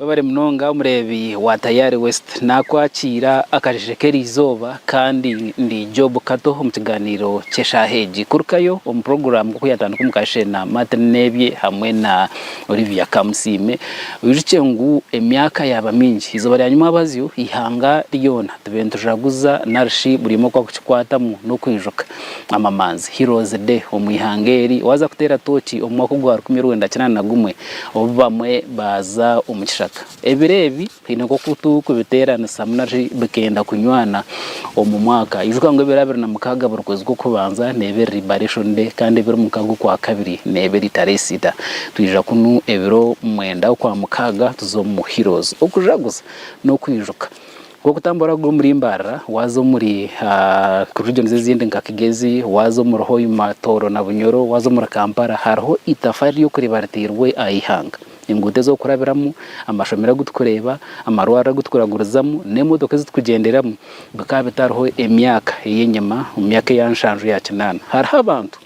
Webare munonga omureebi wa Tayari West. Nakwakiira akasheeshe k'erizooba kandi ndi Job Kato omu kigaaniiro ky'eshaaha egi. Kurukayo omu puroguraamu nk'oku yatandika omu kasheeshe na Martin Nebye hamwe na Olivia Kamusiime. Oyijuukye ngu emyaka yaaba mingi, eizooba ryanywa mwabazyo eihanga ryoona. Tube nitujaguzza narishi buri omwe oku akukikwatamu n'okwijuka amamanzi Heroes Day omu ihanga eri waaza kuteera tooki omu mwaka ogwa rukumi rwenda kinaana na gumwe obu bamwe baaza omu kishaka. Ebiro ebi twine nk'oku turi kubiteeranisamu narishi bikenda kunywana omu mwaka. Ijuka ngu ebiro abiri na mukaaga buri kwezi kw'okubanza neeba eri Liberation Day kandi ebiri mukaaga okwa kabiri neeba eri Tareesita. Twija kunu ebiro mwenda okwa mukaaga tuze omu Heroes okujaguza n'okwijuka. Nk'oku utamba oraruga omuri Mbarara waaza omuri regions ezindi nka Kigezi, waaza omuri Hoima, Tooro na Bunyoro, waaza omuri Kampala hariho eitafaari ry'okureeba ritairwe aha ihanga. Enguuto ez'okurabiramu, amashomero agu turikureeba, amarwariro agu tukuragurizamu n'emotoka ezi turikugyenderamu bikaba bitariho emyaka ey'enyima omu myaka eya nshanju ya kinaana. Hariho abantu.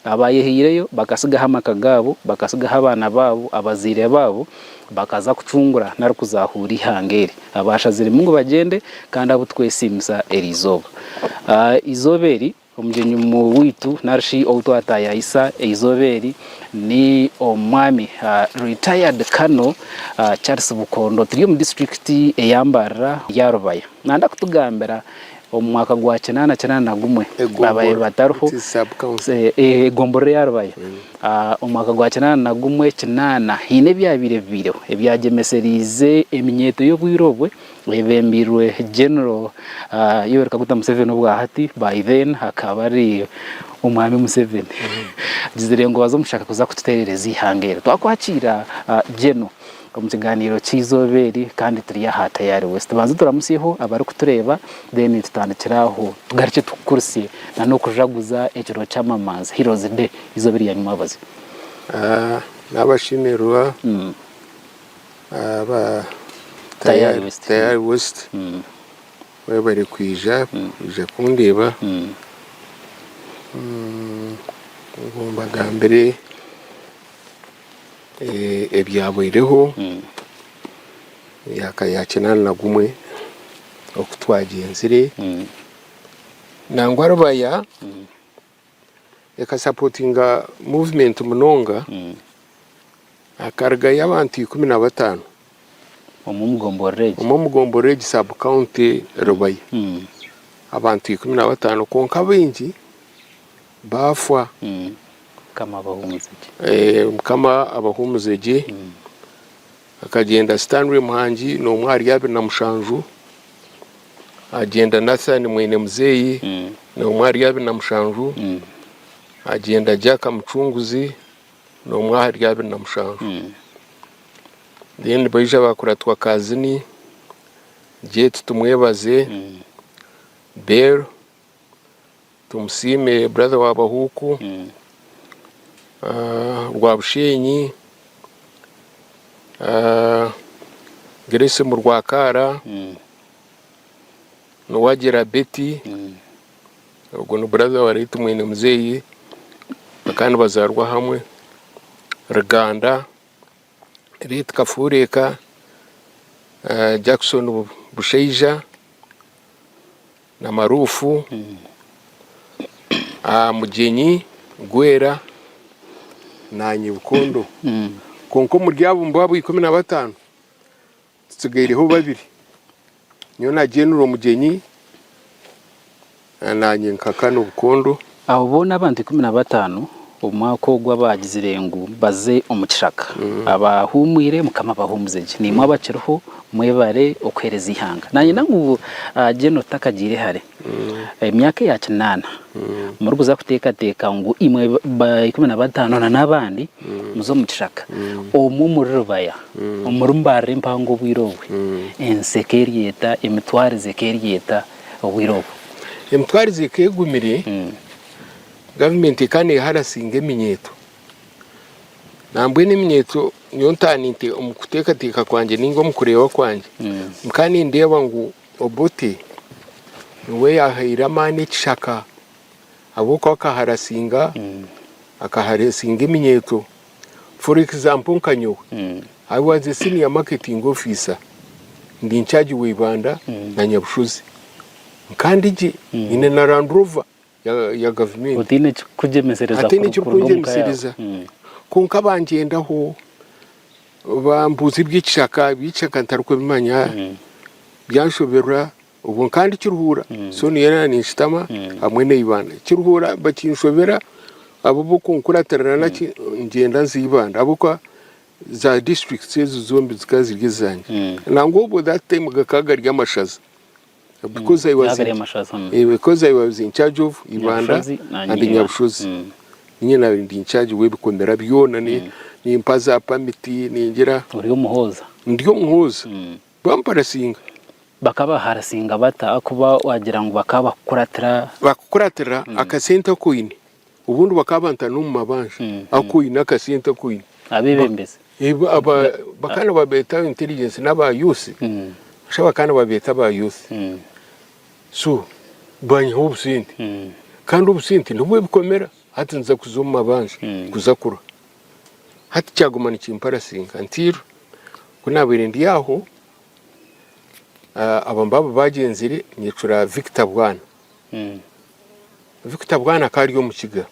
Abaayehaireyo bakatsigaho amaka gaabo, bakatsigaho abaana baabo, abazaire baabo, bakaza kucungura nari kuzaahuura eihanga eri. Abaashaziremu ngu bagyende kandi abu turikwesiimisa eri izooba. Eizooba eri omugyenyi waitu nari shi ou twataayaayisa eizooba eri ni Omwami Retired Colonel Charles Bukondo. Turi omu disiturikiti eya Mbarara, Rubaya. Naayenda kutugambira Omu mwaka gwa kinaana kinaana na gumwe babaire batariho egomborora eya Rubaya. Omu mwaka gwa kinaana na gumwe kinaana haine ebyabaire bibaireho ebyagyemesereize eminyeeto y'obwire obwe eyebembeirwe General Yoweri Kaguta Museveni obwa hati by then akaba ari Omwami Museveni. Agizire ngu baze omushaka kuza kututeerereza eihanga eri. Twakwakiira General. Omu kigaaniiro ky'eizooba eri kandi turi aha Tayari West. Tubanze turamutsyeho abarikutureeba then tutandikire aho tugarukye tukukurutsye nana okujaguza ekiro ky'amamanzi, Heroes Day, eizooba erya nyima bazi. N'abashemererwa aba Tayari West mwebare kwija kwija kundeeba ngu mbagambire. Ebyabaireho emyaka ya kinaana na gumwe oku twagyenzire nangwa Rubaya ekasapotinga muvumenti munonga hakarugayo abantu ikumi na bataano omu omugomborora egi sabu kawunti Rubaya abantu ikumi na bataano kwonka abaingi baafwa. Mukama abahumuze gye. Eeh mukama abahumuze gye. Akagyenda Stanley Muhangi nomwe ahari abiri na mushanju, agyenda Nathan mwene muzeeyi nomwe ahari abiri na mushanju, agyenda Jack Mucunguzi nomwe ahari abiri na mushanju. Then baija ba Kuratwa Kazini, Jet Tumwebaze, Bell. Tumusiime brother wa Bahuuku rwa Busheenyi, Grace mu Rwakaara, Nuwagira Betty ogwo ni brother wa late mwine muzeeyi kwonka nibazaarwa hamwe, Ruganda, late Kafureeka, Jackson Bushaija. Na maruufu aha mugyenyi gwera na nyibukondo. Kwonka omuri abo mbwabo ikumi na bataano tutsigaireho babiri, nyowe na General Mugyenyi na Nanyenka Kano Bukondo. Abo boona abantu ikumi na bataano omu mwaka ogwo abaagizire ngu baze omu kishaka, abaahuumwire, Mukama abahuumuze gye. Naimwe abakiriho, mwebare okuheereza eihanga. Naanyenda ngu General takagiire hare, emyaka eya kinaana, murikuza kuteekateeka ngu imwe ba ikumi na bataano na n'abandi muze omu kishaka, omwe omuri rubaya, omuri mbarira empango obwire obwe, ensi eka eryeta, emitwarize eka eryeta. obwire obwo. Emitwarize ekaba egumire, gavumenti ekaba neharasinga eminyeeto. Nambwenu eminyeeto nyowe ntaaha omu kuteekateeka kwangye nainga omu kureeba kwangye, nkaba nindeeba ngu Obote niwe yaahaire amaani ekishaka ahabw'okuba akaharasinga, akaharasinga eminyeeto. For example nka nyowe, I was a senior marketing officer ndi in charge wa Ibanda na Nyabushozi. Nkaba ndi gye, nyine na Land Rover ya, ya gavumenti. Otaine ekirikukugyemesereza Hataine kuru- kuruga omu ka yawe. ekirikungyemesereza. Mm. Kwonka bangyendaho, bambuuza eby'ekishaka, eby'ekishaka ntarikubimanya, byanshoberwa. Obwo nkaba ndikiruhuura, so niyo yarabaire ninkitama hamwe n'eibanda. Nkiruhuura bakinshobera abo b'okunkuratirana naki ngyenda nza eibanda ahabw'okuba za districts ezo zombi zikaba ziri ezangye. Nangwa obwo that time gakaba gari amashaza because I was Gakaba gari in- amashaza, mm. eh, because I was in charge of Ibanda Nyabushozi na and Nyina. Nyabushozi. Mm. Ninye nabaire ndi in charge w'ebikomera byona ni- nimpa za pamiti ningira Ori omuhooza. ndi omuhooza. Bamparasinga. Bakabaharasinga bata ahakuba waagira ngu bakaba bakukuratira? Bakukuratira akasente aku oine. Obundi bakaba bantana omu mabanja ahakuba oine akasente aku oine. Abeebembezi? Bakaba nibabeeta aba intelligence n'aba youth. Noshusha bakaba nibabeeta aba youth. So banyiha obusente. Kandi obusente nibwo bikomera. Hati niza kuza omu mabanja kuza kurya. Hati kyaguma nikimparasinka nti ku naabaire ndi aho aba mbaaba baagyenzire nyecura Victor Bwana. Hmm. Victor Bwana akaba ari Omukiga.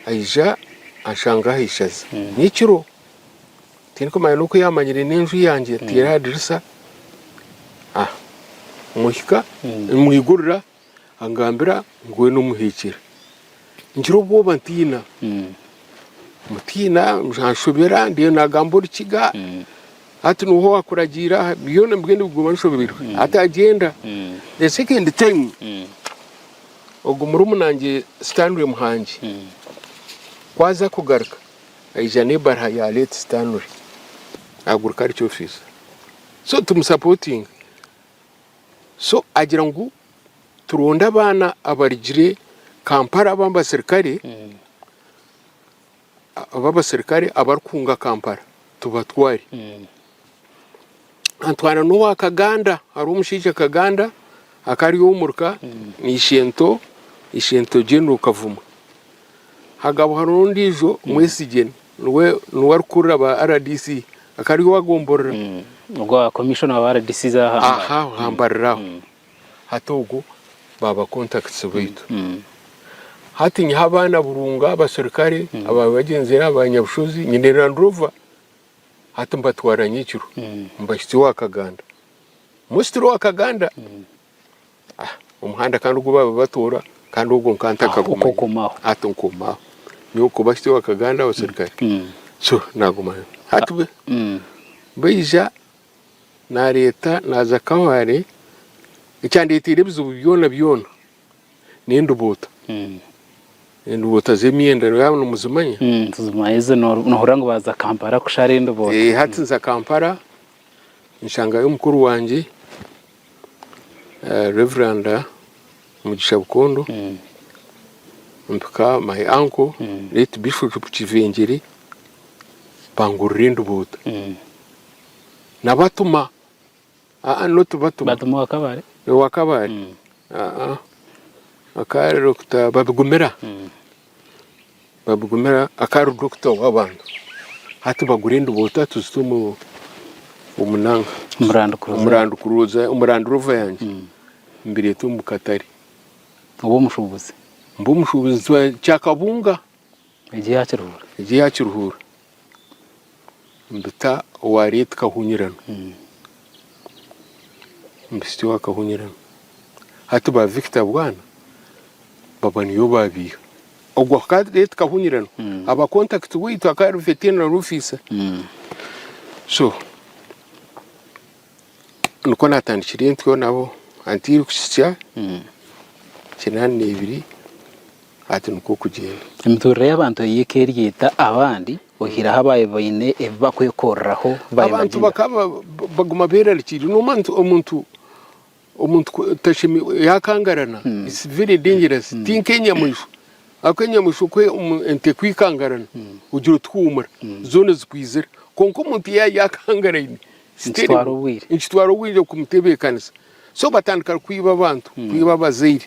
Aija anshanga aha ishaza hmm. nyekiro tirikumanya n'oku yaamanyire n'enju yangye hmm. teeri aha dirisa. Ah, muhika, mwigurira. angambira ngu weena omuheekire. Ngira obwoba ntiina. Mutiina, anshobera ndiyo naagamba Orukiga. Hati niho waakuragiira aha byona nibigenda biguma nshobeirwe. Hati agyenda. The second time, ogwo murumunaangye Stanley Muhangi ku aza kugaruka, aija n'ebaraha ya late Stanley, aguruka ari kyofiisa. So tumusapootinga. So agira ngu turonde abaana abarigire Kampala ab'abaserikare ab'abaserikare abarikunga Kampala tubatware. Antwara n'owa Kaganda, hariho omushaija Kaganda akari omuri ka na Ishento, Ishento General Kavuma. Hagaba hariho ondiijo Mwesigye. Niwe niwe arikukurira ba rdc akaba ari owagomborora. Ogwo wa commissioner wa rdc za aha mbari. Aha aha mbari aho. Hati ogwo ba ba contacts baitu. Hati nyiha abaana Burunga, abaserukare aba bagyenzire aha ba Nyabushozi, nyine Land Rover hati mbatwara nyekiro mbahitsya owa Kaganda. Mostly owa Kaganda. omuhanda kandi ogu baaba batoora kandi ogwo nkaba ntakagumanyaho hati nkomaho nyowe kuba hati wakaganda abaserukare mm. so nagumayo hati bwe mm. baija nareeta naza kaware ekyandeeteire ebizibu byona byona n'endubuuta mm. endubuuta z'emyenda yaba nimuzimanya tuzimanya ezo nohurira ngu baza kampala kushara endubuuta eh, hati nza kampala nshangayo mukuru wangye Rev. Mugisha Bukondo, mpika my uncle late Bishop Kivengere bangurira enduboda nabatuma aa not batuma batuma owa kabare owa kabare aa akaba ari Dokita Babigumira. Babugumira akari dokita w'abantu hati bagura enduboto atuzite omu omunanga omurandukuruza omurandurovo yange hmm. mbireta omu katare oba omushubuzi mba omushubuzi kyakabunga egi yakiruhura egi yakiruhura mbita owa Leeti Kahunyirana, Mbisti wa Kahunyirana. Hati ba Victor Bwana baba niyo babiiha. Ogwo akaba ari Leeti Kahunyirana. Aba kontakiti waitu akaba ari Vetenero Ofisa. So, nikwo natandikira entyo nabo hati tirikuhitsya kinaana na ibiri hati nikwo kugyenda. Emiturire y'abantu ei eka eri eta abandi oyihireho abaabaire baine ebi bakwekoreraho? Abantu bakaba baguma berarikiriire, nomanwa nti omuntu Omuntu otashemeirwe yaakangarana, it's very dangerous, ti nk'enyamaishwa ahabw'okuba enyamaishwa ku ente ekwikangarana ogira oti huumura, zoona zikwizira. Kwonka omuntu yaaba yaakangaraine, it's terrible. Nikitwara obwire. Nikitwara obwire kumutebeekanisa. So batandika kwiba abantu, kwiba abazaire.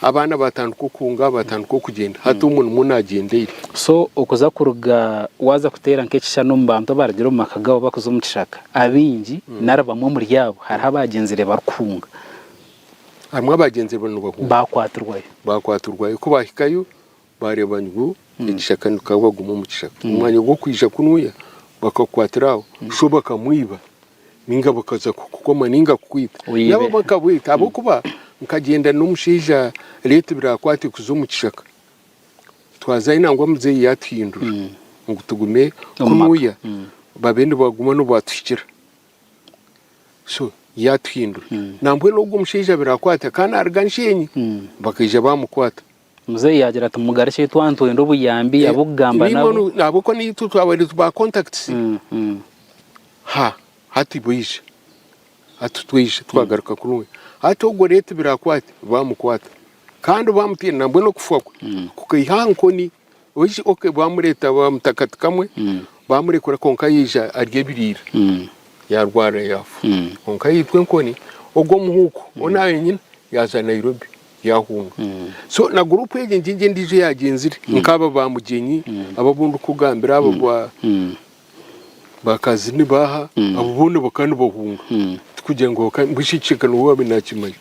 Abaana batandika okuhunga, batandika okugyenda. Hati omwe nimwo nagyenda eira. So okuza kuruga waza kuteera nk'ekishushani omu bantu abarugire omu maka gaabo bakuza omu kishaka, abaingi nari bamwe omuri abo hariho abaagyenzire barikuhunga. Harimu abaagyenzire bariyo nibahunga. Baakwatirwayo. Baakwatirwayo. Ku baahikayo. Baareeba ngu ekishaka nikaba waguma omu kishaka. Omu mwanya gw'okwija kunuya, bakakukwatira aho, sho bakamwiba nainga bakaza kukukoma nainga kukwita. Nabo bakabweta ahabw'okuba nkagyenda n'omushaija reetu biraakwate kuza omu kishaka. Twazayo nangwa muzeeyi yaatuhindura ngu tugume kunuya babe nibaguma n'obu baatuhikira. So yaatuhindura. Nambwenu ogwo mushaija biraakwata akanaruga nsheenyi bakaija baamukwata. Muzeeyi yaagira ati, Mugarukye ahu twaba nitwenda obuyambi, eh, ab'okugamba nabo. Nimwo ahabw'okuba niitwe twabaire ba contacts. Mm, mm. Ha, hati baija. Hati twaija twagaruka mm. kurungi. Hati ogwo reeto birakwate, baamukwata. Kandi baamutaire nambwenu okufa kwe mm. kukaiha aha nkoni Waija okay baamureeta baamutaho kati kamwe baamurekura kwonka yaija arya ebiriira yaarwara yaafa. Kwonka yaitwa enkoni ogwo muhuuku ou naayo nyine yaaza Nairobi yaahunga. So na guruupu egi ngy'egi endiijo eyaagyenzire nk'aba ba Mugyenyi aba abu ndikukugambira aba ba ba Kazini baaha abo boona bakaba nibahunga. Tikugira ngu bakaba mbwenu eki ekicweka niwe waabaire naakimanya.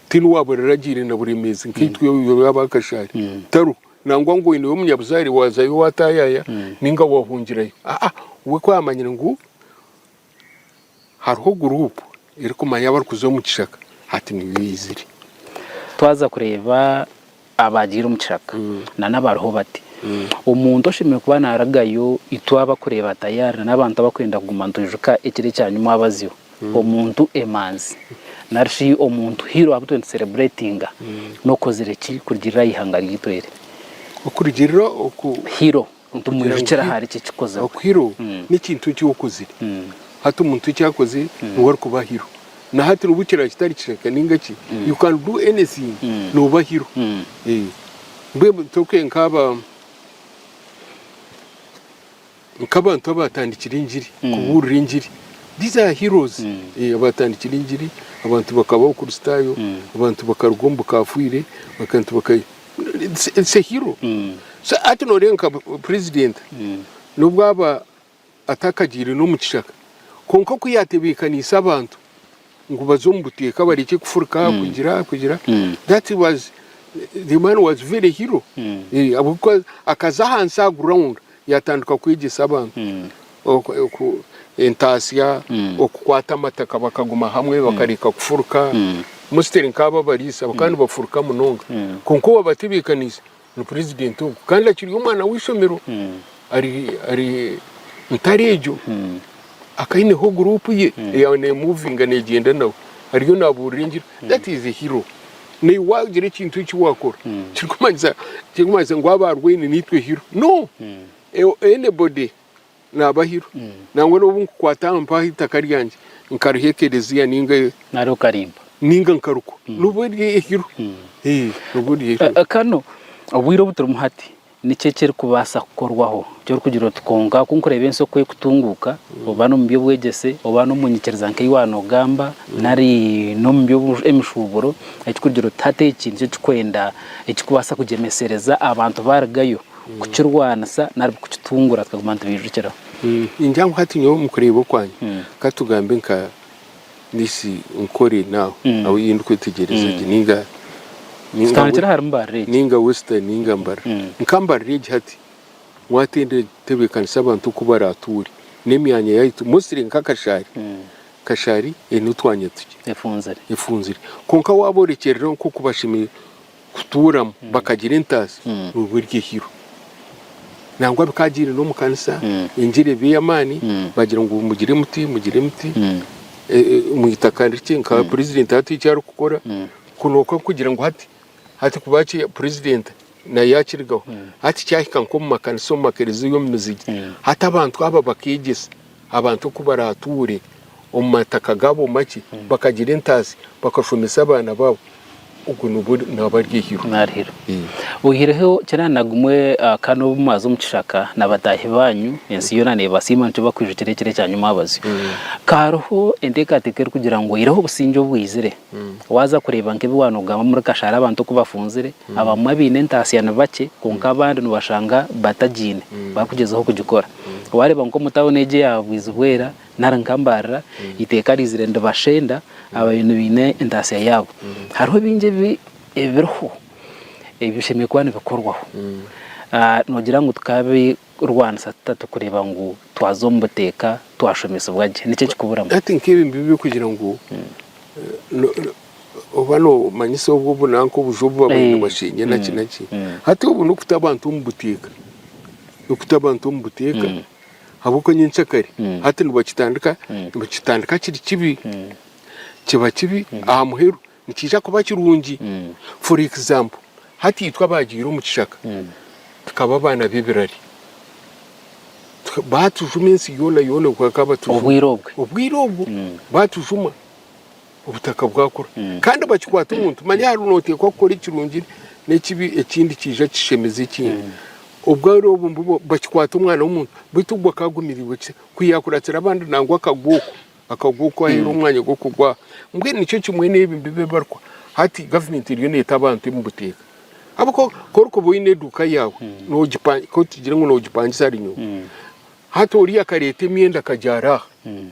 Tihaine owaaba oraragiire na Buremeezi nkaitwe oru yaaba aha kashaare tariho. Nangwa ngu oine w'omunyabuzaare waazayo waataayaaya nainga waahungirayo. Aa, we ku aamanyire ngu hariho guruupu erikumanya abarikuza omu kishaka, hati niyo eizire. Twaza kureeba abaagiire omu kishaka nana abariho bati, omuntu oshemereire kuba naaragayo itwe abakureeba tayari nana abantu abarikwenda kuguma nitwijuka ekiro ekyanyima wabaziho. omuntu emanzi nari shi omuntu hero abu turi celebratinga nokozire ki kurugirira aha ihanga ryaitu eri? Okurugirira oku hero nitumwijukira ahari ki ekikozirwe? Oku hero mm. nekintu eki okozire mm. hati omuntu eki akozire mm. niwe arikuba hero na hati nobu kiraba kitari kishaka ninga ki mm. you can do anything mm. noba hero mm. eh. mbwe toke nkaba Nk'abantu abaatandikire engiri, kubuurira engiri. These are heroes. Abaatandikire engiri, abantu bakaba Abakristaayo, abantu bakaruga omu bukaafiire, abantu baka. It's a hero. So hati nooreeba nka Purezidenti n'obu aba atakagiire n'omu kishaka, kwonka ku yaatebeekaniise abantu, ngu baze omu buteeka barekye kufurika aha kugira aha kugira that was the man was very hero Eh, ahabw'okuba akaza ahansi aha ground yatandika kwegyesa abantu oku- oku- entaasya okukwata amataka bakaguma hamwe bakareka kufurika mostly nk'aba abariisa bakaba nibafuruka munonga kwonka owabatebeekaniise Ni purezidenti ogu kandi akiri omwana w'eishomero ari ntare egyo. Akaba aineho guruupu ye eyaaba neemuvinga neegyenda nawe, ariyo naabuurira engira. That is a hero. Naiwe waagira ekintu eki waakora tirikumanyisa ngu aba arwaine niitwe hero. No! Anybody. Naabahirwa. Nangwa n'obu nkukwata aha mpaho eitaka ryangye, nkariha ekerezia ninga. Nari okarimpa. Ninga nkarukwa. Nobwo ry'ehirwe. Nobwo ry'ehirwe. Kanu obwire obu turimu hati, niki ekirikubaasa kukorwaho, eki orikugira oti kwonka ku nkureeba ensi oku erikutunguuka, oba n'omu by'obwegyese, oba n'omu nyikiriza nk'ei waaba noogamba, nari n'omu by'emishuuburo, eki orikugira oti hati eki nikyo kirikwenda, ekirikubaasa kugyemesereza abantu baarugayo? kukirwanisa nari kukitungura tukaguma nitubijukiraho. Ningira ngu hati nyowe omu kureeba okwangye, ka tugambe nka this Nkore now ahu ei ndikwetegyereza gye ninga Tutandikire ahari Mbarara egi. ninga Western ninga Mbarara. Nka Mbarara egi hati waatebeekanisa abantu oku baraatuure n'emyanya yaitu mostly nka Kashari, Kashari eine otwanya tukye, Efunzire. efunzire. Kwonka waaboorekyereraho nk'oku bashemereire kutuuramu bakagira entaasa nooba eri ehiro. Nangwa bikaagiire n'omu kanisa engira eba ey'amaani baagira ngu mugire muti, mugire muti omu itaka rikye nka purezidenti hati eki arikukora. Kwonka kugira ngu hati, hati kuba ki purezidenti nayo yaakirigaho. Hati kyahika nk'omu makanisa, omu makereziya, omu mizigye, hati abantu aba bakeegyesa. Abantu oku baraatuure omu mataka gaabo makye, bakagira entaatsi, bakashomesa abaana baabo, ogwo nigwo naaba ari eihiro. Naari hiro. Oihireho kiraara na gumwe, kandi n'obu mwaza omu kishaka na bataahi baanyu, ensi yoona neebasiima, nikyo bakwijukira ekiro ekyanyimwabazyo. Ka hariho enteekateeka erikugira ngu oihireho obusingye obwaizire. Waaza kureeba nk'ebi waanogamu omuri Kashara abantu oku bafunzire, abamwe abaine entaasya ni bakye kwonka abandi noobashanga batagiine barikugyezaho kugikora. Waareeba nk'omu tauni egi eya Bwizibwera nari nka Mbaarira, eiteeka riizire niribashenda aba nibaine entaasya yaabo. Hariho bingi ebiriho ebi bishemereire kuba nibikorwaho noogira ngu Kurwanisa tuta turikureeba ngu twaza omu buteeka twashomesibwa gye? Niki ekikuburamu? Hati nk'ebi nibiba birikugira ngu oba noomanyisa obwo obu nanka obuju obu babaire nibasheenya naki naki. Hati obwo n'okuta abantu omu buteeka. N'okuta abantu omu buteeka ahabw'okuba nyenkyakare hati nibakitandika, nibakitandika kiri kibi. Kiba kibi aha muheru Nikiija kuba kirungi. For example, hati itwe abaagiire omu kishaka tukaba abaana b'ebirari. Baatujuma ensi yoona yoona obwo bakaba batujuma. Obwire obwo. Obwire obwo baatujuma, obutaka bwakura. Kandi bakikwata omuntu, manya hariho nooteekwa kukora ekirungi n'ekibi ekindi kiija kishemeza ekindi. Obwire obwo mbwenu bakikwata omwana w'omuntu beitu ogwo akaagumirirwe kitya? Ku yaakuratsire abandi nangwa akagwa okwo. Akagu oku aheirwe omwanya gw'okugwa mbwenu nikyo kimwe n'ebi mbiba ebibarikwa. Hati gavumenti eriyo neeta abantu emu buteeka. Ahabw'okuba ku orikuba oine eduuka yaawe, hmm. noogipa- ku tugire ngu noogipangisa ari nyowe. Hmm. Hati oriya akareeta emyenda akagyara aha. Hmm.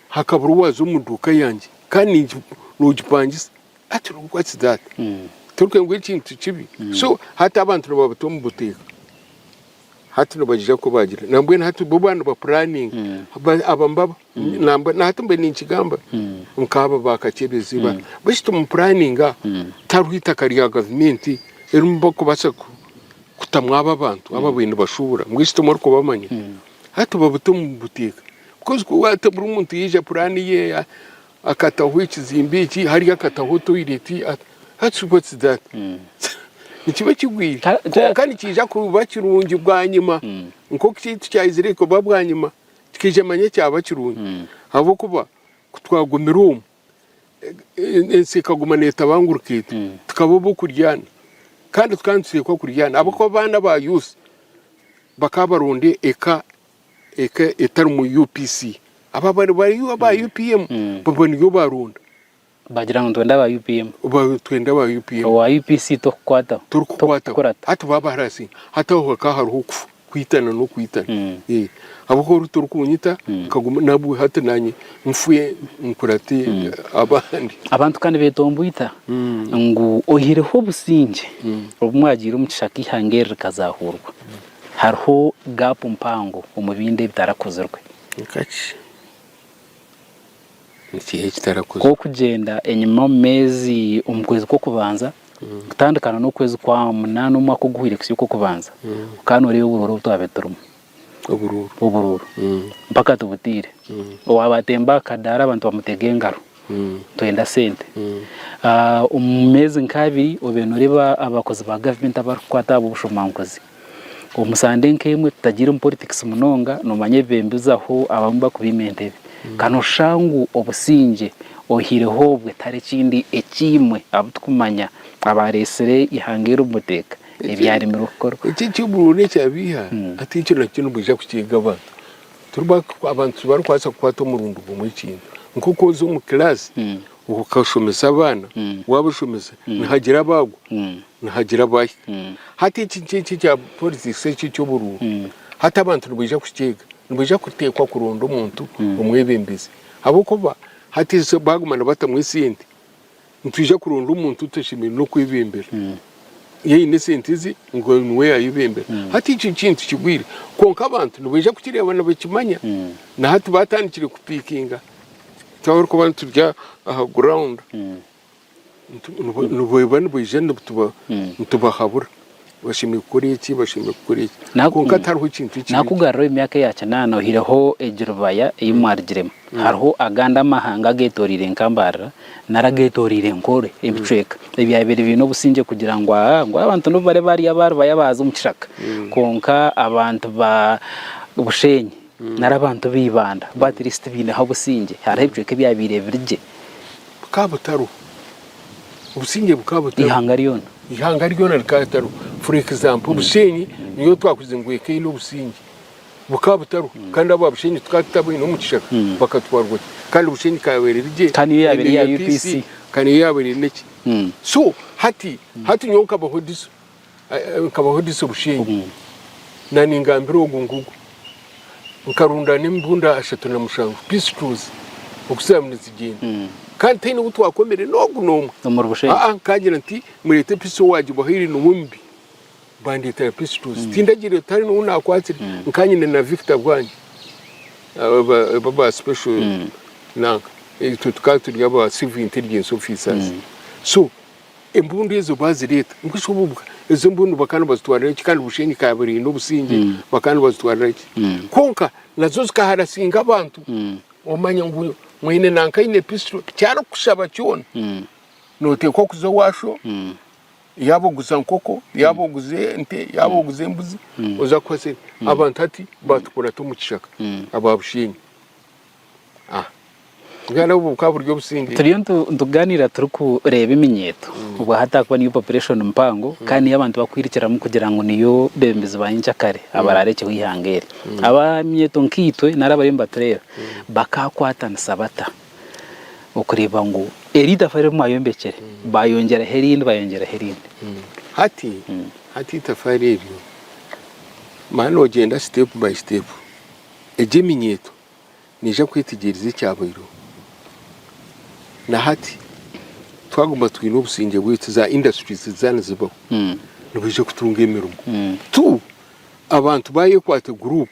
Hakabura owaaza omu duuka yangye kandi ningi- noogipangisa. Hati what's that? Hmm. Torikwenda ngu ekintu kibi. Hmm. So hati abantu nibabata omu buteeka. Hati nibaija kubagira nambwenu hati bo baba nibapuraninga Ba- aba mbaba nambwe nahati mbe ninkigamba nkaaba bakakyebeeza ibara baitu timupuraninga tihariho itaka rya gavumenti erimu bakubaasa ku- kutamu aba abantu aba baine bashuubura mbwenu timurikubamanya hati babute mubiteeka Because ku- hati buri muntu yaija puraani ye Akataho ekizimbe eki, hariya akataho toireti, ati what's that? Nikiba ekigwire kwonka nikiija kuba kirungi bwanyima nk'oku eki tikyaizire kuba bwanyima tikaija manya kyaba kirungi ahabw'okuba ku twagumire omu ensi ekaguma neetabangurika eti tukaba ab'okuryana kandi tukaba nituteekwa kuryana ahabw'okuba abaana ba Yusi bakaba baronda eka eka etarimu UPC aba bariyo aba UPM baba niyo baronda. Bagira ngu nitwenda aba UPM. Twenda aba UPM. Owa UPC tokukwataho. Tokukwataho. Hati baba baharasi. Hati aho hakaba hariho okufa, kwitana n'okwitana. Hmm. Eh. Abaho ori torikunyita hmm. nkaguma nabwe hati nanye nfwe nkurate hmm. abandi. Abantu kandi betombwita ngu oyihireho obusingye obumwagiire omu kishaka ihanga eri rikazahuurwa. Hariho gaapu mpango omu bindi ebitarakozirwe. Nkaki? Nikiha ekitarakozirwe? Kw'okugyenda enyima omu meezi omu kwezi kw'okubanza kutandikana n'okwezi kwa munaana omwaka oguhwire kusya okw'okubanza, okaba nooreeba oburoori obu twabaire turimu. Oburoori? Oburoori. Mpaka tubutaire. Owaaba atemba aha kadaara abantu bamutega engaro. Twenda sente omu meezi nka abiri obe noreeba abakozi ba gavumenti abarikukwata aha b'obushomankuzi. Omu sande nka emwe tutagiire omu poritikisi munonga nomanya ebibembe bizaho abamwe bakubaima entebe. Ka noshusha ngu obusingye oihaireho obwe tihari ekindi ekiimwe abu tukumanya abareetsire eihanga eri omu buteeka ebyarimirwe kukorwa. Eki ekyoburoori ekyabaiha hati ekyo nakyo nibwija kukyeega abantu. Turi abantu tibarikubaasa kukwata omurundi gumwe ekintu. Nk'oku oza omu kiraasi okashomesa abaana, waabashomesa nihagira abaagwa, nihagira abaahika. Hati eki eki ekya politics eki eky'oburuuru, hati abantu nibaija kukyeega, nibaija kuteekwa kuronda omuntu omwebembezi ahabw'okuba hati baaguma nibatamu esente. Nitwija kuronda omuntu otashemereire n'okwebeembera. Iyo aine esente ze, ngu niwe yaayebeembera. Hati ekyo ekintu kigwire. Kwonka abantu nibaija kukireeba nibakimanya. Na hati baatandikire kupiikinga. Twaba orikuba nituri aha ground, nibaija nitubahabura. Bashemereire kukora eki, bashemereire kukora eki. Kwonka tihariho ekintu ekiri. Naakugaruraho emyaka eya kinaana ohireho egi rubaya ei mwarugiremu, hariho agandi amahanga ageetoreire enkambaarira nari ageetoreire enkoro, ebicweka, ebyabaire biine obusingye kugira ngu aa, ngu abantu nibo bari baarya aba rubaya baaza omu kishaka. Kwonka abantu ba Bushenyi nari abantu ba Ibanda bo atirisiti baineho obusingye. Hariho ebicweka ebyabaire biri gye. Bukaba butariho, obusingye bukaba butariho, ihanga ryona ihanga ryona rikaba ritariho for example obushenyi niyo twakuze ngu eka eine obusingye bukaba butariho hmm. kandi abo abushenyi tukaba tutabwine omu kishaka hmm. bakatwarwa ki kandi obushenyi kayabaire rigye kandi iyo yabaire ya UPC kandi iyo yabaire neki hmm. so hati hati nyowe nkabaho diso Nkabahudisa obushenge, naningambira ogu ngugu, nkarunda n'emibunda ashatu na mushanju, pistols, oku zaamu nizigenda. Kandi taine ou twakomire n'ogu n'omwe. Omuri Bushenge? Aa, nkagira nti, mureete pisi owaagibahaire niwe omubi. Bandeetera pistols. Tindagireyo, tihari n'ou naakwatsire. Nkaba nyine na Victor bwange, aba aba ba special nanka. Itwe tukaba turi aba civil intelligence officers. So, Embundu ezo baazireeta mbwenu obubwa ezo embundu bakaba nibazitwarira ki kandi bushenyi ikaba eine obusingye mm. bakaba nibazitwarira ki mm. kwonka nazo zikaharasinga abantu mm. omanya ngu mwene nanka aine pisito kyarikushaba kyona mm. noteekwa kuza owasho mm. yaba oguza nkoko yaba mm. oguza ente yaba mm. oguza embuzi mm. oza kuhasa mm. abantu hati batukurata omu kishaka mm. aba bushenyi Turiyo nitugaaniira turikureeba eminyeeto obwo ahataakuba niyo populeshoni mpango kandi niyo abantu barikwirukiramu kugira ngu niyo beebembezi ba nyenkyakare abaraarekyeho eihanga eri. Abaminyeeto nkaitwe nari abariyo nibatureeba bakaakwatanisa bata okureeba ngu eri itafa eri mwayombekyire baayongyeraho erindi baayongyeraho erindi? Hati eitafaari eryo, manya noogyenda siteepu bayi siteepu. Egi eminyeeto neija kwetegyereza ekyabaireho. Na hati twaguma twine obusingye bwaitu, za industries ziza nizibaho, nibaija kutunga emirimo. Tu, abantu ba Yekwate Group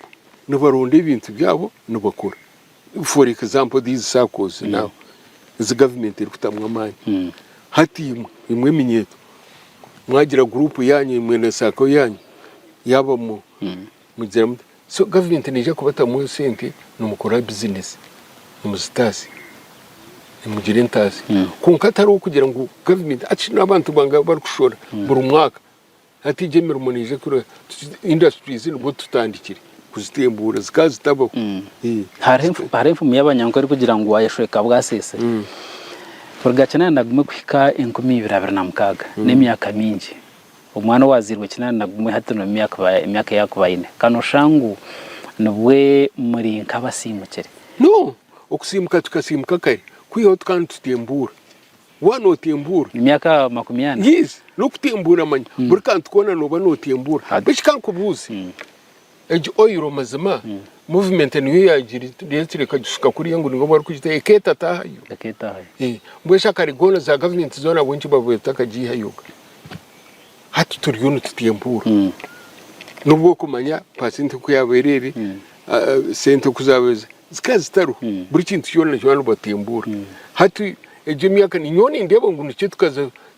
nibaronda ebintu byabo nibakora. For example these saccos now ezi government erikutamu amaani. Hati imwe, imwe eminyeeto mwagira group yaanyu imwe na sacco yaanyu yaabamu Mugira muti, So gavumenti neija kubatamu esente nimukora bizinesi, nimuzitaasa, nimugira entaasa. Kwonka tari okugira ngu gavumenti, hati shi n'abantu bangahi abu barikushora buri mwaka? Hati egyo emirimo neija kureeba tuti indasiturizi nibwo tutandikire kuzitembuura zikaba zitabaho. Hariho enfumu y'Abanyankore erikugira ngu waayeshweka bwasiise. Rugakinana nagume kuhika enkumi ibiri abiri na mukaaga, n'emyaka mingi. Omwana owaazairwe kinaana na gumwe hati na emyaka ei arikuba aine, ka nooshusha ngu nibwo muri nk'abasiimukire. No, okusiimuka tukasiimuka kare, kwihaho tukaba nitutembuura. Waaba nootembuura. Emyaka makumi ana? Yes, n'okutembuura manya buri kantu koona nooba nootembuura. Beitu ka nkubuuze. Egi oil mazima movement niyo yagiretire ekagishuka kuriya ngu nibo barikugitaho ekeeta taahayo. Mbwenu shi akare goona za gavumenti zoona ahabw'enki babaire batakagiihayo? Hati turiyo nitutya empuuru. N'obu orikumanya paasenti oku yaabaire eri, sente oku zaabaire zikaba zitariho, buri kintu kyona kyona nibatembuura. Hati egi emyaka, nyowe nindeeba ngu nikyo tukaza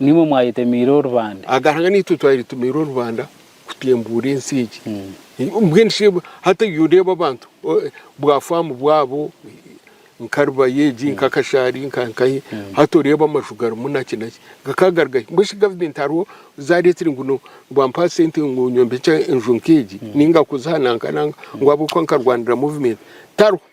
Nimwe mwayetemiire orubanda. Aga Ruhanga naitwe twayetemiire orubanda kutembuura ensi egi. Mbwenu shi hati oiha oreeba abantu bwa faamu bwabo nka Rubaya egi, nka Kashari, nka nkahi, hati oreeba amaju garimu naki naki. Gakaba gari gahi? Mbwenu shi gavumenti hariho zaareeteire ngu no ngu ampa sente ngu nyombekye enju nk'egi, nainga kuziha nanka nanka ngu ahabw'okuba nkarwanira muvumenti? Tariho.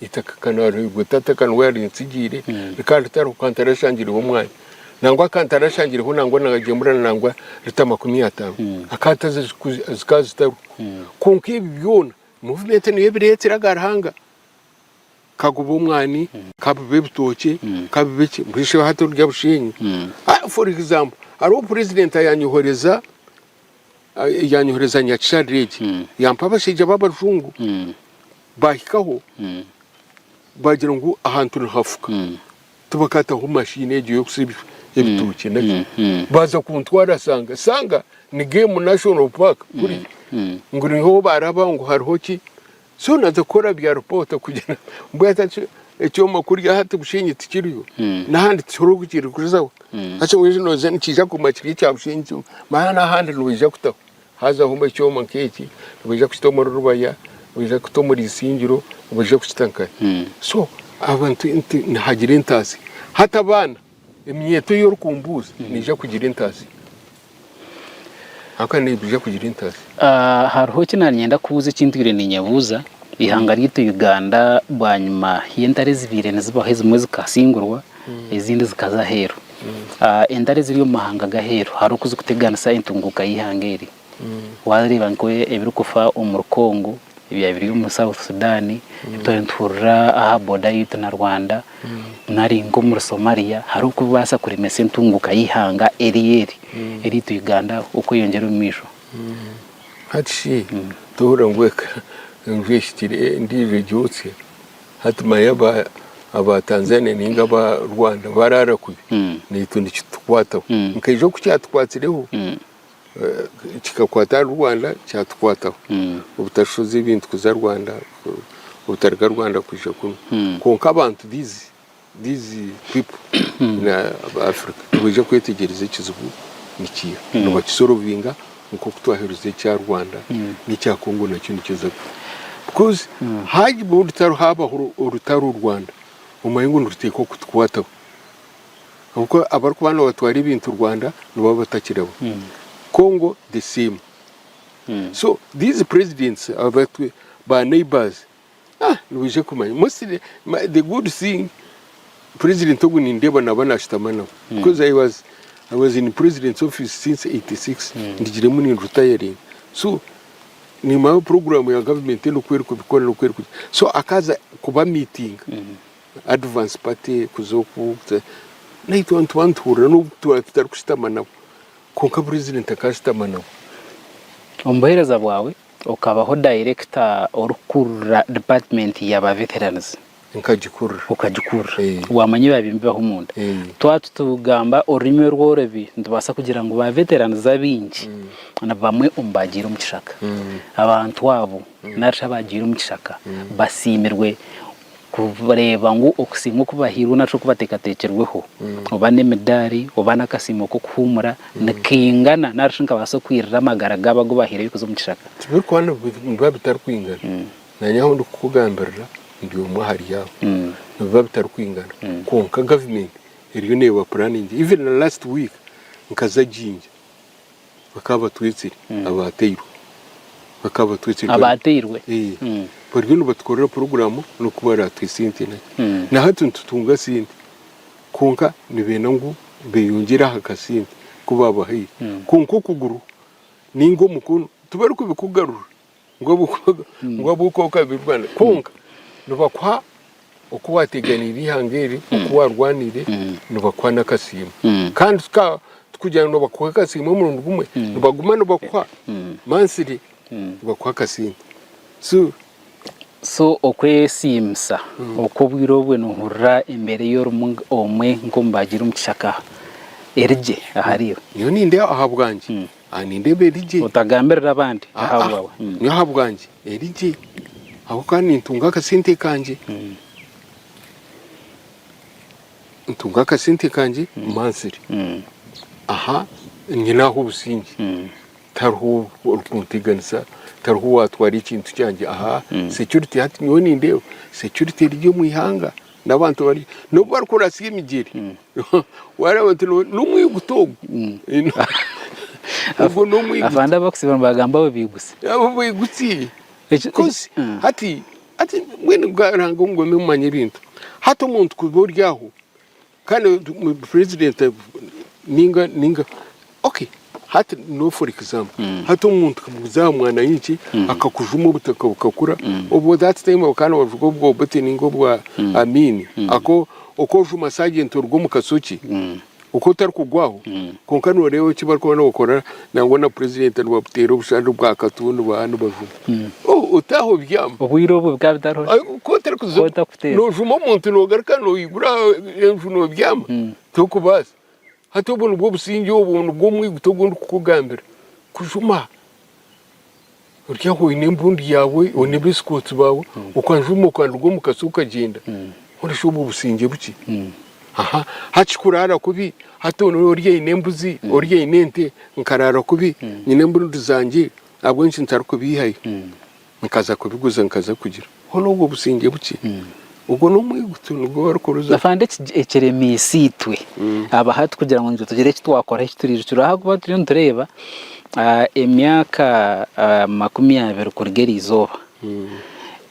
Eitaka ka naarihairwe tata ka niwe yarintsigiire, kandi tariho ka ntarashangireho omwanya. Nangwa ka ntarashangireho nangwa naagyemura nangwa lita makumi ataano, akaataza zikaba zitariho. Kwonka ebi byona muvumenti niyo ebireetsire aga Ruhanga. Ka gube omwani, ka bibe ebitookye, ka bibe ki, mbwenu shi hati orya busheenyi? For example, hariho purezidenti ayanyohoreza. yanyohereza nyakisha Regi hmm. yampa abashaija b'abarujungu hmm. bahikaho hmm. bagira ngu ahantu nihafuka tibakataho mashini egyo y'okusiba ebitookye naki baza kuntwara sanga sanga ni game national park kuri ngu niho baraba ngu hariho ki Zoona zikora bya ripooto kugira mbwenu hati ekyoma kurya hati Bushenyi tikiriyo n'ahandi tikiriho kukirikurizaho. Hati waija nooza nikiija kuguma kiri ekya Bushenyi kyonka mara n'ahandi nibaija kutaho. Haazaho mbwenu ekyoma nk'eki nibaija kukita omuri Rubaya, nibaija kukita omuri Isingiro, nibaija kukita nkahe. So abantu nti nihagira entaasya. Hati abaana Eminyeeto ei orikumbuuza neija kugira entazi. Ahakuba neija kugira entazi. Hariho eki naaba niinyenda kubuuza eki ntwire niinyebuuza. Eihanga ryaitu Uganda bwanyima y'entare ezibaire nizibaho ezimwe zikasingurwa ezindi zikaza aheeru. Entare eziri omu mahanga g'aheeru hariho oku zirikuteganisa entunguuka y'eihanga eri? Waareeba nk'ebirikufa omuri Congo ebyaba biri omuri South Sudan, ebi twaba nituhurira aha boda yaitu na Rwanda nari nk'omuri Somalia hariho oku bikubaasa kuremesa entunguuka y'eihanga eri eri eryaitu Uganda okweyongyera omu maisho. Hati shi tohurira ngu eka enju ehikire endiijo egyotsye? Hati manya aba aba Tanzania nainga aba Rwanda baraara kubi naitwe nikitukwataho. Nka ijo ku kyatukwatireho, Kikakwata ahari Rwanda kyatukwataho obutashoza ebintu kuza Rwanda obutaruga Rwanda kwija kunu kwonka abantu these people in Africa nibaija kwetegyereza ekizibu nikiiha nibakisorovinga nk'oku twaherize ekya Rwanda n'ekya Congo nakyo nikiza kuhwa because haabaho orutaro Rwanda omanye ngu niruteekwa kutukwataho. Ahabw'okuba abarikuba nibatwara ebintu Rwanda nibaba batakiriho. Congo the same. So these presidents abatu ba neighbours ah nibaija kumanya mostly ma- the good thing president ogu nindeeba naba nashutama nabo because I was I was in president's office since 86 ndigiremu ni retiring so nimanya program ya government enu oku erikubikora n'oku erikugira so akaza kuba meeting Advance party kuza oku naitwe abantu banituhurira nobu twaba tutarikushutama nabo kwonka burizire ntakashutama nabo. Omu buheereza bwawe okabaho dayirekita orikukurira dipaatimenti yaaba veteranizi? Nkagikurira. Okagikurira. Waamanya ebiba nibibaho omunda? Twaba tutagamba orurimi orworobi nitubaasa kugira ngu ba veteranizi abaingi nibamwe omu baagiire omu kishaka. Abantu abo narishi abaagiire omu kishaka basiimirwe? kureeba ngu okusiimwa oku bahairwe nari okubateekateekirweho, oba n'emidaari oba n'akasiimo k'okuhuumura, nikaingana nari shi nikabaasa kwirira amagara gaabo agu baahairwe kuza omu kishaka. Tibirikuba nibiba bitarikwingana. Naanye ahu ndikukugambirira ndi omwe ahari abo. Nibiba bitarikwingana. Kwonka gavumenti eriyo neeba puraningi. Even last week nkaza Jinja. Bakaba batwetsire abaateirwe. Bakaba batwetsire. Abaateirwe. Bariyo nibatukorera puroguraamu n'oku baraatuha esente. Na hati nitutunga sente kwonka nibeenda ngu beeyongyere aha kasente aku baabahaire. Kwonka okuguru nainga omukono tibarikubikugarurira. ngu abukooko abirwane kwonka nibakuha oku wateganiire eihanga eri oku warwaniire nibakuha n'akasiimo kandi tikugira ngu nibakuha akasiimo omurundi gumwe nibaguma nibakuha mansire nibakuha akasente so so okwesiimisa oku obwire obwe nohurira embeera ei orimu omwe nk'omubaaji eri omu kishaka erigye ahariiwe? Nyowe nindeeba ahabwangye Aha, nindeeba eri gye. Otagambirira abandi, Ah, ah, ahabwawe. Mm. nyowe ahabwangye eri gye ahabw'okuba nintunga akasente kangye Mm. ntunga akasente kangye mansire Mm. aha nyine aho obusingye Mm. tariho orikunteganisa tariho owatwara ekintu kyangye aha security hati nyowe nindeeba security eri gye omu ihanga n'abantu bari n'obu barikuratsya emigyere waareba oti n'omwiguta ogu ogwo n'omwiguta afande abakusiiba nibagamba abo baigusi abo baigusi Eki- Because eki- mm. hati hati mbwenu bwarange omugome mumanya ebintu hati omuntu kuba ori aho kandi omuntu- mu- president ninga ninga Ok, hati no for example hati omuntu kamuguza aha mwana yinki akakujuma obutaka bukakura obwo that time bakaba nibavuga obwa Obote ninga obwa Amin ako okojuma sergeant oruga omu kasoki oku otarikugwaho kwonka noreeba eki barikuba nibakora nangwa na president nibabuteera obushari bwa katu nibaha nibajuma oh otaha obyama Obwire obwo bikaba bitariho shi? Ayi, ku otarikuza Ku otakuteera. nojuma omuntu nogaruka noyigura enju nobyama tokubaasa Hati obu nibwo busingye, obu nibwo omwiguta ogu ndikukugambira. Kujuma ori aho oine embundu yaawe, oine abeesikooti baawe, okajuma okaruga omu katsi okagyenda. Mbwenu shi obwo busingye bukye? Aha, hati kuraara kubi, hati ori aine embuzi, ori aine ente, nkaraara kubi, nyine embundu zangye ahabw'enki ntarikubaihayo? Nkaza kubiguza nkaza kugira. Hoona obwo busingye bukye. Ogwo n'omwigutu nigwo barikuruza. Afande ekiremiisa itwe aba hati kugira ngu nitwe tugire eki twakoraho eki turiirukiraho ahakuba turiyo nitureeba emyaka makumi abiri kuruga eri izooba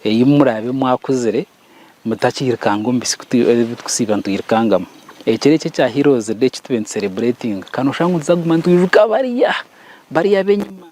ei muraabe mwakuzire mutakiirukanga omu bitsiko ebi turikusiiba nitwirukangamu. Ekiro eki ekya Heroes day eki tube nituserebureetinga ka noshanga ngu nituza kuguma nitwijuka bariya, bariya ab'enyima.